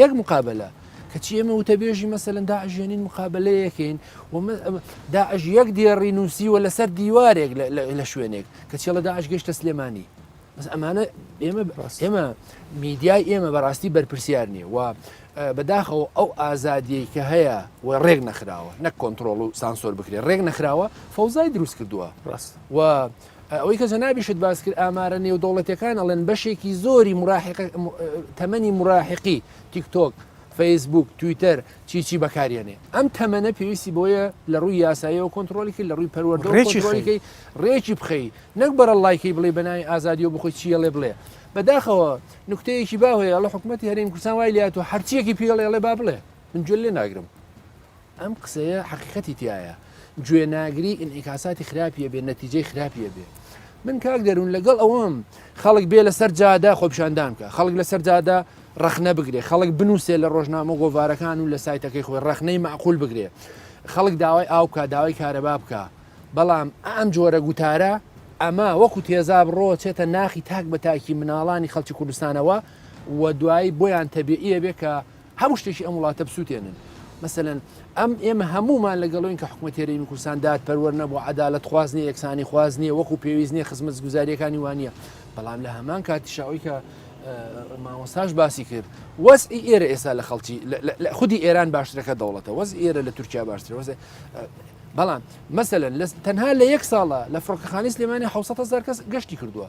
یەک مقابەلە کەچی ئێمە وتەبێژی مەسەن داعش ێنین مقابلەیەکەین داعش یەک دێڕی نووسیوە لەسەر دیوارێک لە شوێنێک کە چێڵە داعش گەشتە سلێمانی بەس ئەمانە ئێمە ئێمە میدیای ئێمە بەڕاستی بەرپرسیار نییە و بەداخەوە ئەو ئازادیەی کە هەیە و ڕێک نەخراوە نەک کۆنتترۆڵ و سانسۆر بکرێت ڕێک نەخراوە فەوزای دروست کردووە ڕاست و ئەوەی کە جەنابیشت باس کرد ئامارە نێودەوڵەتەکان ئەڵێن بەشێکی زۆری مراحق تەمەنی مراحقی تیکتۆک فەیسبوک تویتەر چیچی بەکارێنێ ئەم تەمەنە پێویستی بۆیە لە ڕووی یاسایەوە کۆنتترۆلیکی لە ڕووی پەروەردەڕێکی ڕێکی بخەی نەک بەرە لایکی بڵێ بەناوی ئازادی و بخۆی چیە لێ بڵێ بەداخەوە نکتەیەکی باوەیە لە حکوومەتتی هەرێم کوردستان وای لات و هەرچیەکی پێڵێڵێ با بڵێ من گوێ لێ ناگرم ئەم قسەیە حەقیقەتی تیایە گوێ ناگری ئینعیکاساتی خراپی ئەبێ نەتیجەی خراپی ئەبێ من کاک دەرون لەگەڵ ئەوەم خەڵک بێ لەسەر جادە خۆپیشاندان بکە خەڵک لەسەر جادە ڕەخنە بگرێ خەڵک بنووسێ لە ڕۆژنامە گۆڤارەکان و لە سایتەکەی خۆی ڕەخنەی معقول بگرێ خەڵک داوای ئاو بکە داوای کارەبا بکە بەڵام ئەم جۆرە گوتارە ئەمە وەکو تێزا بڕۆ چێتە ناخی تاک بە تاکی مناڵانی خەڵکی کوردستانەوە و دوایی بۆیان تەبیعیە بێ کە هەموو شتێکی ئەم وڵاتە بسووتێنن مەسەلەن ئەم ئێمە هەمومان لەگەڵۆین کە حکوومەت هێرێمی کوردستان داد پەروەەر نەبوو عدالت خواز نیە یەکسانی خواز نیە وەکو پێویست نیە خزمەت گوزاریەکانی وانە بەڵام لە هەمان کاتیشەوەی کە مامۆستاش باسی کرد وەز ئێرە ئێستا لە خەڵکی خودی ئێران باشترەکە دەوڵەتە وەز ئێرە لە تورکیا باشتر وەز بەڵام مەسەن تەنها لە یەک ساڵە لە فڕۆکەخانی سلێمانی حوسەهزار کەس گەشتی کردووە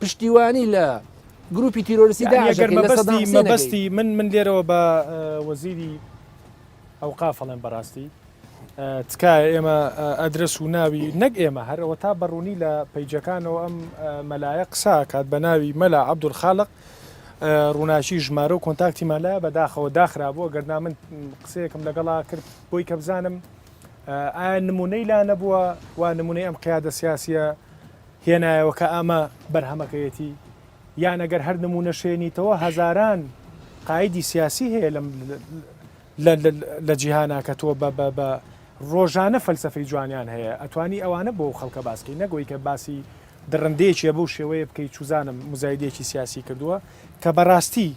پشتیوانی لە گروپی تیرۆرسی داگەرمەبستی مەبەستی من من لێرەوە بە وەزیری ئەو قافڵێن بەڕاستی تکایە ئێمە ئەدرس و ناوی نەک ئێمە هەرەوە تا بەڕوونی لە پەیجەکانەوە ئەم مەلایە قسا کات بە ناوی مەلا عبدول خاڵق ڕووناچی ژمارە و کۆنتاکتی مەلا بەداخەوە داخرابووە گەرنا من قسەیەکم لەگەڵا کرد بۆی کە بزانم ئایا نمونەی لا نەبووە وا نمونەی ئەم قیادە سیاسە هێنایەوە کە ئەمە بەرهەمەکەیەتی یان ئەگەر هەر نموونەش هێنیتەوە هەزاران قایدی سیاسی هەیە لەم لە جیهانا کە تۆ بە بە بە ڕۆژانە فەلسفەی جوانیان هەیە ئەتوانی ئەوانە بۆ خەڵکە باسکەی نەگوی کە باسی دڕندەیەکیە بەو شێوەیە بکەیت چوزانم مزایدێکی سیاسی کردووە کە بەڕاستی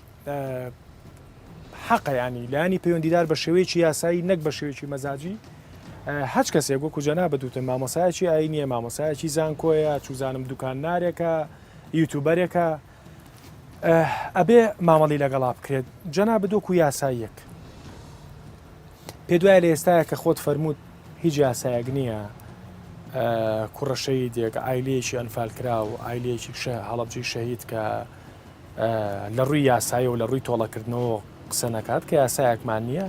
حەقە یانی لانی پەیوەندیدار بە شێوەیەکی یاسایی نەک بە شێوەیەکی مەزاجی هەچ کەسێک وەکو جەنا بەدوتن مامۆسایەکی ئاینیە مامۆسایەکی زانکۆیە چوزانم دوکان نارێکە یوتوبەرێکە ئەبێ مامەڵی لەگەڵا بکرێت جەنا بدۆک و یاساییەک پێ دوای لە ئێستاە کە خۆت فەرمووت هیچ یاسایەک نییە کوڕەشەی دێک ئایلەیەکی ئەنفالکرا و ئایلەیەکی شە هەڵبجی شەهید کە لە ڕووی یاسایی و لە ڕووی تۆڵەکردنەوە قسە نەکات کە یاسایەکمان نییە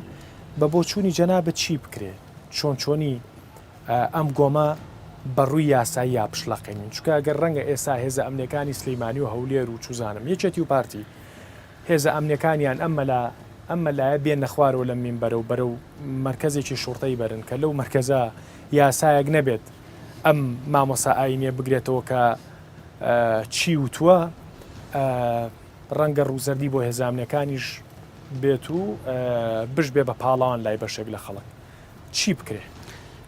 بە بۆچوونی جەنابەت چی بکرێت چۆن چۆنی ئەم گۆمە بەڕووی یاسایی یا پشلەقێنین چکە گەر ڕەنگە ئێسا هێزە ئەمنەکانی سلیمانی و هەولێر و چوزانم یەکێتی و پارتی هێزە ئەمنەکانیان ئەمە لە ئەمە لایە بێن نەخوارەوە لە مین بەرە و بەرە و مرکزێکی شوڕتەی بەرن کە لەو مرکزە یاسایەک نەبێت ئەم مامۆسا ئاینە بگرێتەوە کە چی وتووە ڕەنگە ڕووزەردی بۆ هێزامنەکانیش بێت و بش بێ بە پاڵان لای بەشێک لە خەڵک چی بکرێ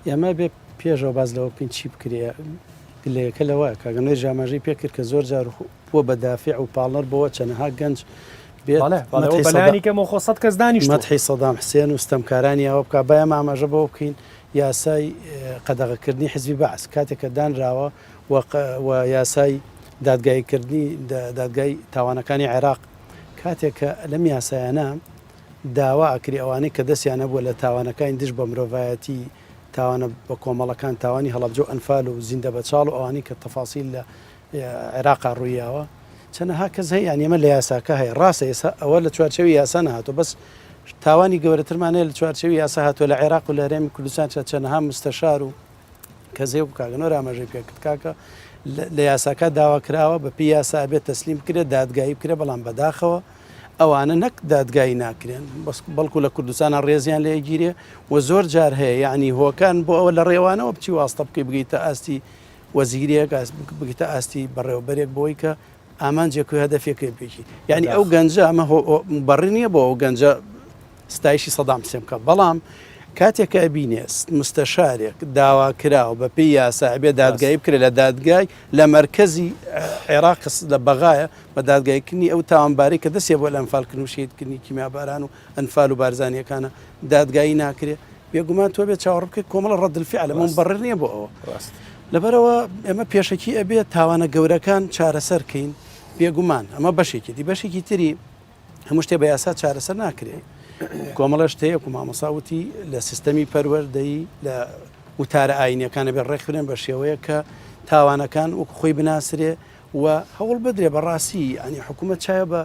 ئێمە بێ پێشەوە باز لەوە بکەین چی بکرێ گلەیەکە لەوە کاگەنەی ژاماژەی پێکرد کە زۆر جار بۆ بەدافع و پاڵەر بۆە چەنەها گەنج بەڵێکەمە خۆ سەد کەس دانیش مەتحی سەدام حسێن و ستەمکارانی ئەوە بک باە ئاماژە بۆ بکەین یاسای قەدەغەکردنی حزبی بەعس کاتێککە دانراوە و یاسای دادگاییکردنی دادگای تاوانەکانی عێراق، کاتێک کە لەم یاسایانە داوا ئەکری ئەوانەی کە دەستیان هەبووە لە تاوانەکانی دژ بە مرۆڤایەتی، تاوانە بە کۆمەڵەکان، تاوانی هەڵەبجە و ئەنفال و زیندە بەچاڵ و ئەوانەی کە تەفاسیل لە عێراقا ڕوویاوە، چەنەها کەس هەیە یانی ئەمە لە یاساکە هەیە، ڕاستە ئێستا ئەوە لە چوارچێوی یاسا نەهاتووە بەس تاوانی گەورەترمان هەیە لە چوارچێوی یاسا هاتووە لە عێراق و لە هەرێمی کوردستان چەنەها مستەشار و کەس هەیە کاکە نۆر ئاماژەی پێ کرد کاکە لە یاساکە داوا کراوە بە پێ یاسا بێت تەسلیم بکرێت دادگایی بکرێت بەڵام بەداخەوە ئەوانە نەک دادگایی ناکرێن بەڵکو لە کوردستانە ڕێزیان لێگیرێ و زۆر جار هەیە یعنی هۆکان بۆ ئەوە لە ڕێوانەوە بچی واستە بکەی بگەیتە ئاستی وەزیرێک بگیتە ئاستی بەڕێوەبەرێک بۆی کە ئامانجێک و هەدەفێکێ بێکی یعنی ئەو گەنجە ئەمە بەڕی نییە بۆ ئەو گەنجە ستایشی سەدام حسێن بکە بەڵام کاتێک کە ئەبینێ مستەشارێک داواکراوە بە پێی یاسا ئەبێ دادگایی بکرێت لە دادگای لە مرکزی عێراق لە بەغایە بە دادگایکردنی ئەو تاوانبارەی کە دەستێ بۆ لە ئەمفالکردن و شیدکردنی کیمیاباران و ئەنفال و بارزانانیەکانە دادگایی ناکرێت بێگومان تۆ بێت چاوەڕ بکەیت کۆمەڵە ڕەدلفی علە من بەڕێ نییە بۆ ئەوە لەبەرەوە ئێمە پێشەکی ئەبێت تاوانە گەورەکان چارەسەرکەین بێگومان ئەمە بەشێکی دی بەشێکی تری هەموو شتێ بە یاسا چارەسەر ناکرێ کۆمەڵە شتەیەک و مامەسا وتی لە سیستەمی پەروەەردەی لە وتارە ئاینەکانە بێ ڕێکخرێن بە شێوەیە کە تاوانەکان وەک خۆی بناسرێ و هەوڵ بدرێ بەڕاستی ئەنی حکوومەت چایە بە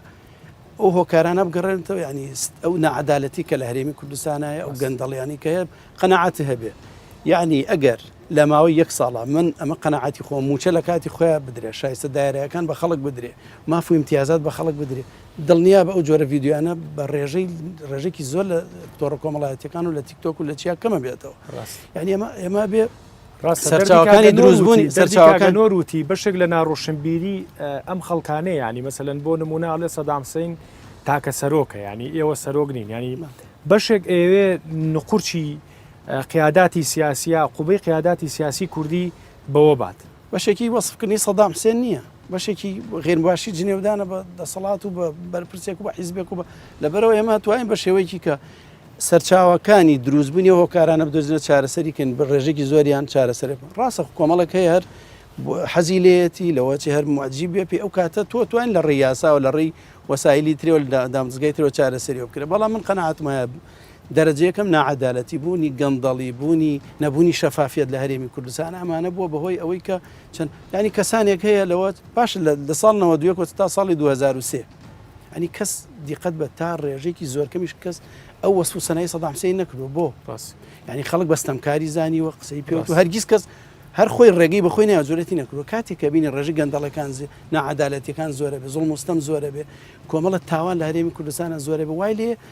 ئەو هۆکارانە بگەڕێنەوە ینی ئەو نەعادالەتی کە لە هەرێمی کوردستانایە ئەو گەندەڵیانی کە هەیە قەنەعاتی هەبێ یعنی ئەگەر لە ماوەی یەک ساڵە من ئەمە قەناعەتی خۆم مووچە لە کاتی خۆیان بدرێ شایستە دایرەکان بە خەڵک بدرێ ماف و امتیازات بە خەڵک بدرێ دڵنیا بە ئەو جۆرە یددیوانە بە ڕێژەی ڕێژێکی زۆر لە تۆڕە کۆمەڵایەتەکان و لە تیکتۆک و لە چیا کەمە بێتەوە یعنی ئەمە ئێمە بێ سەرچاوەکانی دروستبوونی سەرچاوەکان نۆروتی بەشێک لە ناڕۆشنبیری ئەم خەڵکانەیە ینی مەسەن بۆ نمونە لە سەدامسین تاکە سەرۆکە ینی ئێوە سەرۆک نین ینی بەشێک ئێوێ نقورچی قیاداتی سیاسیە عقوبەی قیاداتی سیاسی کوردی بەوە بات. بەشێکی وەسف کردنی سەدام حسێن نییە بەشێکی غێرمباشی جنێودانە بە دەسەڵات و بە بەرپرسێک و بە حیزبێک و بە لەبەرەوە ئێمە توانین بە شێوەیەکی کە سەرچاوەکانی دروستبوونی هۆکارانە بدۆزنە چارەسەری کەن بە ڕێژێکی زۆریان چارەسەرێک ڕاستە کۆمەڵک هەیە هەر حەزی لێتی لەوەچی هەر معجی بێ پێ ئەو کاتە تۆ توان لە ڕێ یاساوە لە ڕێی وەسایلی ترێوە دامزگای ترەوە چارەسەری بکرێ بەڵام من قەنەعاتمایە دەرەجە یەکەم ناعەدالەتی بوونی گەندەڵی بوونی نەبوونی شەفافیت لە هەرێمی کوردستان ئەمانە بووە بەهۆی ئەوەی کە چەند ینی کەسانێک هەیە لەوە باش لە ساڵنەوە دوێکۆ تا ساڵی 2023 ئەنی کەس دیقەت بە تا ڕێژێکی زۆرکەمیش کەس ئەو وەسف و سەنای سەدامسەی نەکردو بۆ ڕاست ینی خەڵک بەستەمکاری زانی وە قسەی پێوت و هەرگیز کەس هەر خۆی ڕێگەی بەخۆی ناجورەتی نەکردو کاتێک کە بینی ڕێژی گەندەڵەکان ناعادالەتەکان زۆرە بێ زۆڵ مستەم زۆرە بێ کۆمەڵە تاوان لە هەرێمی کوردستانە زۆرە بە وای لێ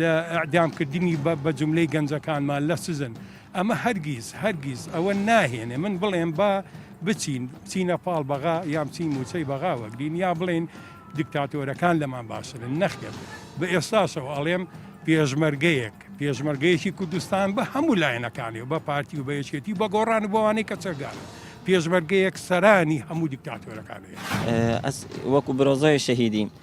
لە ئیعدام کردنی بە جوملەی گەنجەکانمان لە سجن ئەمە هەرگیز هەرگیز ئەوە ناهێنێ من بڵێم با بچین بچینە پاڵ بەغا یا بچین موچەی بەغا وەگرین یا بڵێن دیکتاتۆرەکان لەمان باشترن نەخێر بە ئێستاشەوە ئەڵێم پێشمەرگەیەک پێشمەرگەیەکی کوردستان بە هەموو لایەنەکانی و بە پارتی و بە یەکێتی و بە گۆڕان و بەوانەی کە چەکدار پێشمەرگەیەک سەرانی هەموو دیکتاتۆرەکانی ئەس وەکو برۆزۆی شەهیدی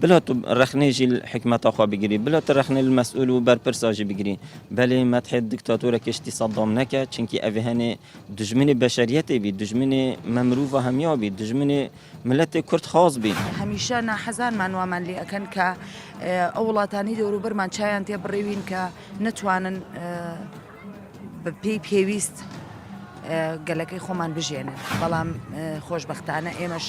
بلۆ تو رەخنەی ژی حکمەتە خۆ بگری بلۆ تو رەخنەی لە مەسئول و بەرپرسا ژی بگری بەلی مەتحێ دکتاتورە کشتی سەدام نەکە چنکی ئەڤ هەنێ دوژمنی بەشەریەتێ بی دوژمنی مە مروڤا هەمیا بی دوژمنی ملەتێ کورد خاس بی. هەمیشە ناحەزانمان وامان لێ ئەکەن کە ئەو وڵاتانەی دەوروبەرمان چایان تێ بڕیوین کە نەتوانن بەپێی پێویست گەلەکەی خۆمان بژێنن بەڵام خۆشببختانە ئێمەش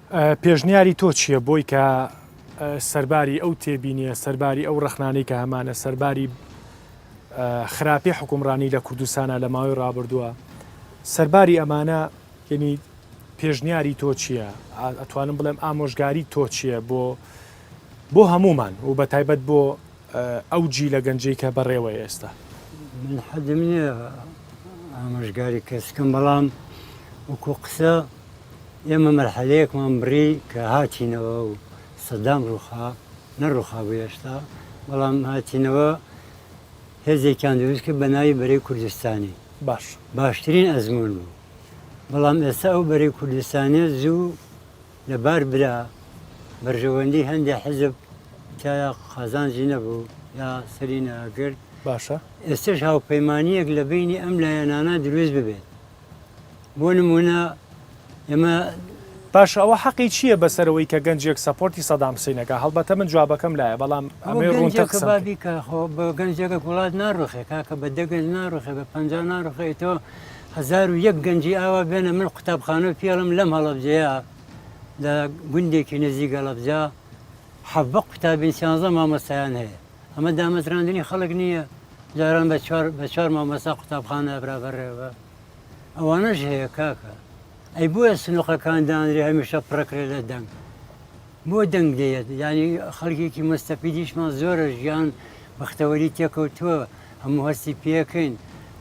پێشنیاری تۆ چییە بۆی کە سەرباری ئەو تێبینیە سەرباری ئەو ڕەخنانەی کە هەمانە سەرباری خراپی حکومڕانی لە کوردستانە لە ماوەی ڕابردووە سەرباری ئەمانە یعنی پێشنیاری تۆ چییە ئەتوانم بڵێم ئامۆژگاری تۆ چییە بۆ بۆ هەمومان و بە تایبەت بۆ ئەو جیلە گەنجەی کە بەڕێوەیە ئێستا. من حەدم نییە ئامۆژگاری کەس بکەم، بەڵام وەکوو قسە ئێمە مەرحەلەیەکمان بڕی کە هاتینەوە و سەدام ڕووخا، نەڕووخابوو هێشتا، بەڵام هاتینەوە هێزێکیان دروست کرد بە ناوی بەرەی کوردستانی. باش. باشترین ئەزموون بوو. بەڵام ئێستا ئەو بەرەی کوردستانییە زوو لەبار برا، بەرژەوەندی هەندێ حیزب تیایا قازانجی نەبوو یا سەری نەئەگرت، باشە ئێستەش هاوپەیمانیەک لە بەینی ئەم لایەنانە دروست ببێت بۆ نمونە ئێمە باشە ئەوە حەقی چییە بەسەر ئەوەی کە گەنجێک سەپۆرتی سەدام حسین ئەکا هەڵبەتە من جوابەکەم لایە بەڵام ئەمەی ڕوونتر قسەم کرد. بابی کە خۆ بە گەنجێکە وڵات ناڕوخێ کاکە بە دە گەنج ناڕوخێ بە پەنجا ناڕوخێ ئیتۆ هەزار و یەک گەنجی ئاوا بێنە من قوتابخانە و پێڵم لەم هەڵەبجەیە لە گوندێکی نزیک هەڵەبجە حەڤە قوتابین سیانزە مامۆستایان هەیە ئەمە دامەزراندنی خەڵک نییە جاران بە چوار بە چوار مامۆستا قوتابخانە برابەرێەوە ئەوانەش هەیە کاکە ئەی بۆیە سنوقەکان دانرێ هەمیشە پڕەکرێ لە دەنگ بۆ دەنگ دێت ینی خەڵکێکی مستەفیدیشمان زۆرە ژیان بەختەوەری تێکەوتووە هەموو هەستی پێکەین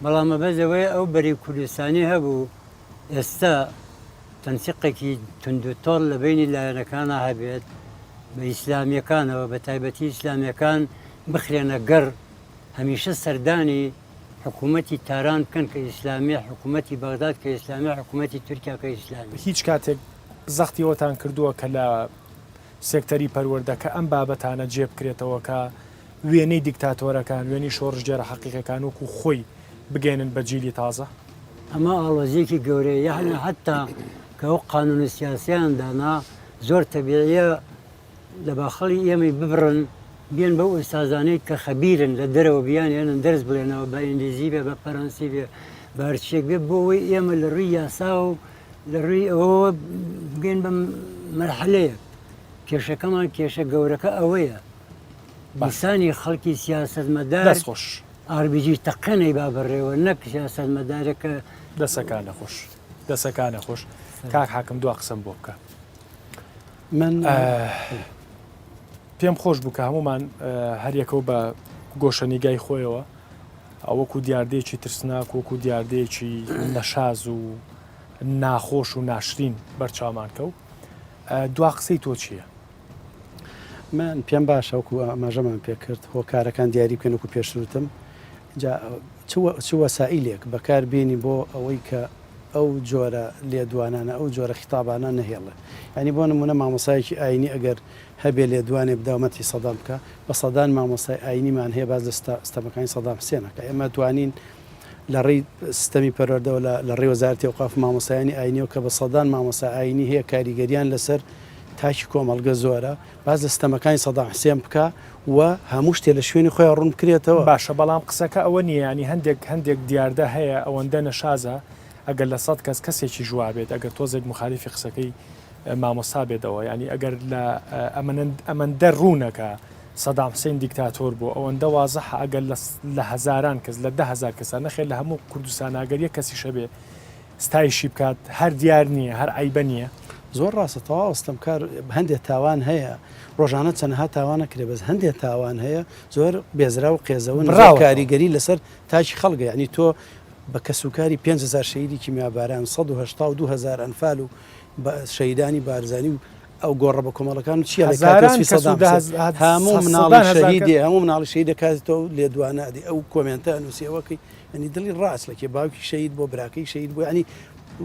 بەڵام مەبەست لەوەیە ئەو بەرەی کوردستانی هەبوو ئێستا تەنسیقێکی توندوتۆڵ لە بەینی لایەنەکانا هەبێت بە ئیسلامیەکانەوە بە تایبەتی ئیسلامیەکان بخرێنە گەڕ هەمیشە سەردانی حکوومەتی تاران بکەن کە ئیسلامی حکوومەتی بەغداد کە ئیسلامی حکوومەتی تورکیا کە ئیسلامی. هیچ کاتێک زەختی ئەوەتان کردووە کە لە سێکتەری پەروەردە کە ئەم بابەتانە جێبکرێتەوە کە وێنەی دیکتاتۆرەکان، وێنەی شۆڕشگێڕە حەقیقیەکان وەکو خۆی بگەیەنن بە جیلی تازە. ئەمە ئاڵۆزیەکی گەورەیە، یەعنی حەتا کە ئەو قانونە سیاسیەیان دانا زۆر تەبیعیە لە باخەڵی ئێمەی ببڕن بێن بەو ئوستازانەی کە خەبیرن لە دەرەوە بیانهێنن دەرس بڵێنەوە بە ئینگلیزی بێ بە فەرەنسی بێ بە هەرچیەک بێ بۆ ئەوەی ئێمە لە ڕووی یاساوە و لە ڕووی ئەوەوە بگەین بە مەرحەلەیەک کێشەکەمان کێشە گەورەکە ئەوەیە. ئینسانی خەڵکی سیاسەتمەدار دەست خۆش RBG تەقەنەی با بڕێوە نەک سیاسەتمەدارەکە دەسەکانە خۆش دەسەکانە خۆش کاک حاکم دو قسم بۆ بکە من پێم خۆش بوو کە هەمومان هەریەکەو بە گۆشەنیگای خۆیەوە ئەوەکو دیاردەیەکی ترسناک وەکو دیاردەیەکی نەشاز و ناخۆش و ناشرین بەرچاومان کەو دوا قسەی تۆ چییە؟ من پێم باشە وەکو ئاماژەمان پێکرد هۆکارەکان دیاری بکەن وەکو پێشروتم چ وەسائلێک بەکار بێنی بۆ ئەوەی کە ئەو جۆرە لێدوانانە ئەو جۆرە خیتابانە نەهێڵێ ئەنی بۆ نمونە مامۆسایەکی ئاینی ئەگەر هەبێ لێدوانێ بداومەتی سەدام بکە بە سەدان مامۆسای ئاینیمان هەیە باز لە ستەمەکانی سەدام سێنەکە ئێمە توانین لە ڕێی سیستەمی پەروەردەوە لە ڕێ وەزارتی وقاف مامۆسایانی ئاینیەوە کە بە سەدان مامۆسا ئاینی هەیە کاریگەریان لەسەر تاکی کۆمەڵگە زۆرە باس لە ستەمەکانی سەدام حسێن بکا و هەموو شتێ لە شوێنی خۆیان ڕوون بکرێتەوە. باشە بەڵام قسەکە ئەوە نییە یانی هەندێک هەندێک دیاردە هەیە ئەوەندە نەشازە ئەگەر لە سەد کەس کەسێکیش وابێت ئەگەر تۆزێک موخالیفی قسەکەی مامۆستا بێتەوە یانی ئەگەر لە ئەمەندە ڕوونە کە سەدام حسین دیکتاتۆر بۆ ئەوەندە وازەحە ئەگەر لە هەزاران کەس لە ده هزار کەسە نەخێر لە هەموو کوردستان ئەگەر یە کەسیشە بێ ستایشی بکات هەر دیار نییە هەر عیبە نییە. زۆر ڕاستە تەواو ستەمکار هەندێک تاوان هەیە ڕۆژانە چەنەها تاوانە کرێ بەس هەندێک تاوان هەیە زۆر بێزرا و قێزەون کاریگەری لەسەر تاکی خەڵگە ینی تۆ بە کەسوکاری 5هزار شەیدی کیمیاباران 1970 دوهزار ئەنفال و شەیدانی بارزانانی و ئەو گۆڕە بە کۆمەڵەکان و چیە هەموو مناڵی شەهیدێ هەموو مناڵی شەهید دەکاتەوە و لێدوانادی ئەو کۆمنتە نووسەوەکەی ئەنی دڵی ڕاست لەکێ باوکی شەید بۆ براکەی شەید بۆ ینی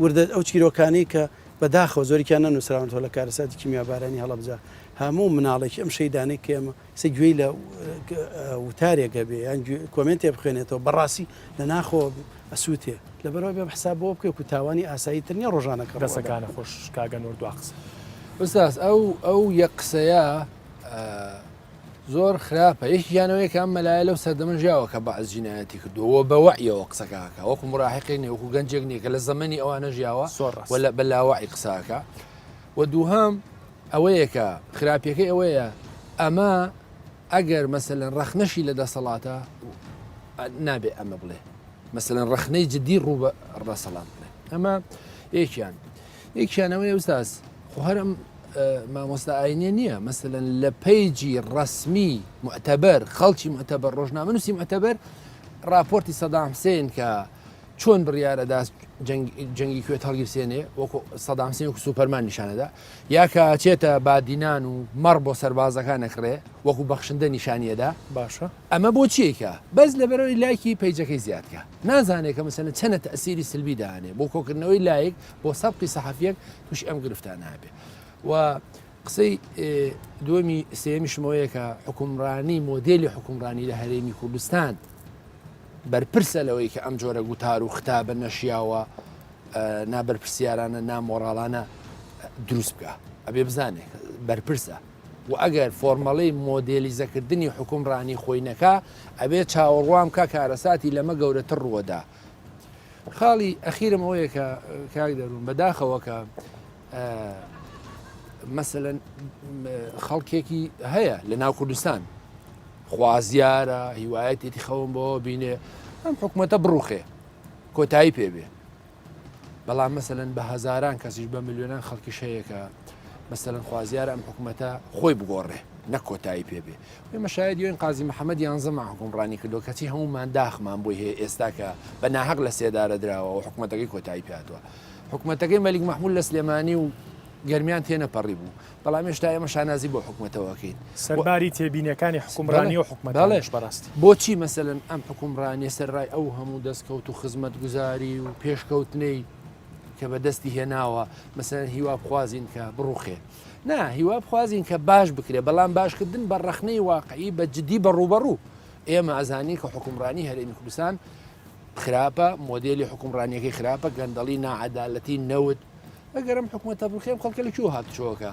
وردە ئەو چیرۆکانی کە بەداخەوە زۆریان نەنووسراونەوە لە کارەساتی کیمیابارانی هەڵبجە هەموو مناڵێکی ئەم شەیدانەی کێمە کەسێک گوێی لە وتارێک هەبێ یان کۆمێنتێ بخوێنێتەوە بەڕاستی لە ناخۆ ئەسووتێ لە بەرەوە بێ حساب بۆ بکە و تاوانی ئاسایی تر نیە ڕۆژانەکە ڕسەکانە خۆش کاگەن و دو قسە بساس ئەو ئەو یە قسەیە زۆر خراپە یەکی یانەوەی کە ئەم مەلایە لەو سەردەمە ژیاوە کە بەعز جینایەتی کردووە بەوەعیەوە قسەکەکە وەکو مراحقی نێ وەکو گەنجێک نیە کە لە زەمەنی ئەوانە ژیاوە وە لە بەلاوەعی قساکە و دووهام ئەوەیە کە خراپیەکەی ئەوەیە ئەمە ئەگەر مەسەلەن ڕەخنەشی لە دەسەڵاتە نابێ ئەمە بڵێ مەسەلەن ڕەخنەی جدی ڕوو بە ڕەسەڵات بڵێ ئەمە یەکیان یەکیانەوەی ئەوساس خۆ هەرم مامۆستا ئاینە نییە مەسەن لە پەیجی ڕسمی معتەبەر خەڵکی معتەبەر ڕۆژنامەنووسی معتەبەر راپۆرتی سەدام حسێن کە چۆن بڕیار ئەدات جەنگی کوێت هەڵگیرسێنێ وەکو سەدام سێن و سوپەرمان نیشانەدا یاکە چێتە بادینان و مەڕ بۆ سەربازەکان نەکڕێ وەکو بەخشندە نیشانیەدا باشە ئەمە بۆ چیکە بەس لەبەرەوەی لایکی پیجەکەی زیادکە نازانێت کە مسەنە چەنە تەسیری سلبی دانێ بۆ کۆکردنەوەی لایک بۆ سەبقی سەحفیەک توش ئەم گرفتان نابێ و قسەی دووەمی سێمیشم ئەوەیە کە حکومڕانی مۆدێلی حکومڕانی لە هەرێمی کوردستان بەرپرسە لەوەی کە ئەم جۆرە گوتار و ختا بە نەشیاوە نابەرپسیارانە نامۆراڵانە دروست بکە ئەبێ بزانێت بەرپرسە و ئەگەر فۆرمەڵی مۆدێلیزەکردنی حکومڕانی خۆینەکە ئەبێ چاوەڕوام کا کارەساتی لەمە گەورەتر ڕووەدا خاڵی ئەخیرم ئەوەیە کە کاک دەروون بەداخەوە کە مەسەەن خەڵکێکی هەیە لە ناو کوردستان خوازیارە هیوایەتێتی خەوم بۆ بینێ ئەم حکوومەتە بڕوخێ کۆتایی پێبێ بەڵام مەسەن بە هزاران کەسیش بە میلیۆنان خەڵکی شەیەکە مەسەن خوازیارە ئەم حکوومەتە خۆی بگۆڕێ نە کۆتایی پێبێ ئێمە شایەدی ئەوین قازی محەمەد یانزەمان حوکمڕانی کردووە، کەچی هەموومان داخمان بۆی هەیە ئێستا کە بە ناهەق لە سێدارە دراوە و حکومەتەکەی کۆتایی پێهاتووە. حکومەتەکەی مەلیک مەحمود لە سلێمانی و گەرمیان تێنەپەڕیبوو، بەڵام هێشتا ئێمە شانازی بۆ حکومەتەوە ئەکەین. سەرباری تێبینیەکانی حوکمڕانی و حکومەتانیش بەڕاستی. بۆچی مەسەلەن ئەم حوکمڕانیە سەرەڕای ئەو هەموو دەستکەوت و خزمەتگوزاری و پێشکەوتنەی کە بەدەستی هێناوە، مەسەلەن هیوابخوازین کە بڕوخێ؟ نا هیوا بخوازین کە باش بکرێ بەڵام باشکردن بە ڕەخنەی واقعی بە جددی بە ڕوبەڕوو ئێمە ئەزانین کە حکومڕانی هەرێمی کوردستان خراپە مۆدیلی حکومڕانیەکەی خراپە گەندەڵی ناعادالەتی نەوت ئەگەرم حکوومەتە بخێم خەڵکە لە کوێ هاتچۆکە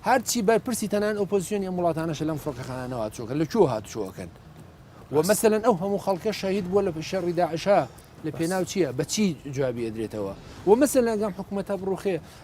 هەرچی بەرپرسی تەنان ئۆپۆزیسیۆنی ئەم وڵاتانەش لەم فڕکەخانەوە چۆکە لە کوێ هاتچۆکەن ومەسەن ئەو هەموو خەڵکە شەهید بووە لە شەڕی داعشا لە پێناو چییە بەچی جوابی ئەدرێتەوە و مەسە لەگەم حکوومەتە بڕوخێ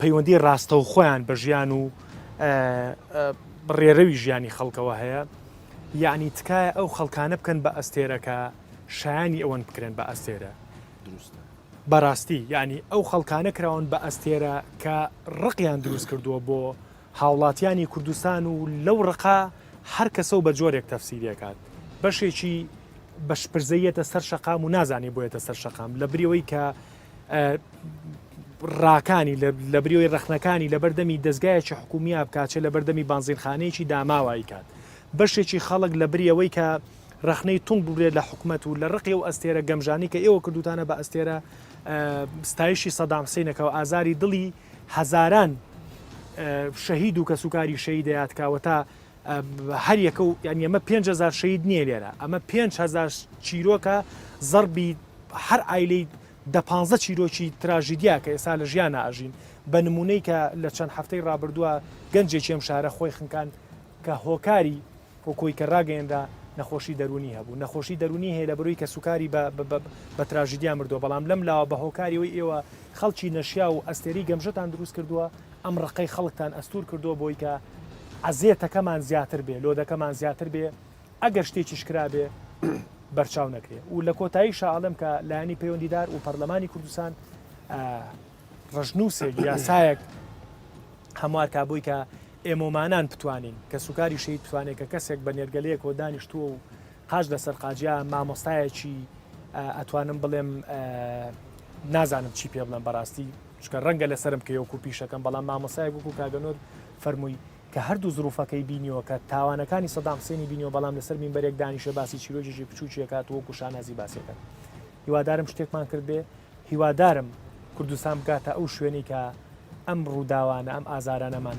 پەیوەندی ڕاستەوخۆیان بە ژیان و ڕێرەوی ژیانی خەڵکەوە هەیە یعنی تکایە ئەو خەڵکانە بکەن بە ئەستێرەکە شایانی ئەوەن بکرێن بە ئەستێرە دروستە بەڕاستی یعنی ئەو خەڵکانە کراون بە ئەستێرە کە ڕقیان دروست کردووە بۆ هاوڵاتیانی کوردستان و لەو ڕقا هەر کەسە و بە جۆرێک تەفسیرەکات بەشێکی بەشپرزەیەتە سەر شەقام و نازانێ بۆیەتە سەر شەقام لە بریەوەی کە ڕاکانی لە بریۆی ڕەخنەکانی لەبەردەمی دەستگایەکی حکومیە بکچە لە بەردەمی بانزینخانەیەکی داماوایی کات بەشێکی خەڵک لە بریەوەی کە ڕخنەی تونند ببرێت لە حکوومەت و لە ڕقی و ئەستێرە گەمژانی کە ئێوە کردوتانە بە ئەستێرە ستایشی سەدام حسینەکەەوە ئازاری دڵی هەزاران شەهید و کەسوکاری شەیدەیاتکەوە تا هەر یەکە و یانی ئەمە پێنج هەزار شەید نییە لێرە ئەمە پێنج هەزار چیرۆکە زەڕبی هەر ئایلەی دە پانزە چیرۆکی تراژیدیا کە ئێستا لە ژیان ئاژین بە نمونەی کە لە چەند هەفتەی ڕابردووە گەنجێکی ئەم شارە خۆی خنکان کە هۆکاری وەکۆی کە ڕاگەێنرا نەخۆشی دەرونی هەبوو نەخۆشی دەرونی هەیە لە بروی کە سوکاری بە تراژیدیا مردووە بەڵام لەم لاوە بە هۆکاریەوەی ئێوە خەڵکی نەشیا و ئەستێری گەمژەتان دروست کردووە ئەم ڕقەی خەڵکتان ئەستور کردوە بۆی کە عەزێتەکەمان زیاتر بێ لۆدەکەمان زیاتر بێ ئەگەر شتێکیش کرابێ بەرچاو نەکرێ و لە کۆتایی شاڵم کە لایانی پەیوەندیدار و پەرلەمانی کوردستان ڕژنووسێک یاسایەک هەموار کا بۆی کە ئێمۆمانان بتوانین کە سوکاری شەید بتوانێت کە کەسێک بە نێرگەلەیەک و دانیشتووە و قاش لەسەر قاجیا مامۆستایەکی ئەتوانم بڵێم نازانم چی پێ بڵێم بەڕاستی چونکە ڕەنگە لەسەرم کەی وەکو پیشەکەم بەڵام مامۆسایەک وەکو کاک نۆر فەرمووی کە هەردوو زروفەکەی بینیوە کە تاوانەکانی سەدام حسێنی بینیوە بەڵام لەسەر مینبەرێک دانیشێ باسی چیرۆکێکی بچوکی ئەکات و وەکو شانازی باسی ئەکات هیوادارم شتێکمان کردبێ هیوادارم کوردستان بگاتە ئەو شوێنی کە ئەم ڕووداوانە ئەم ئازارانەمان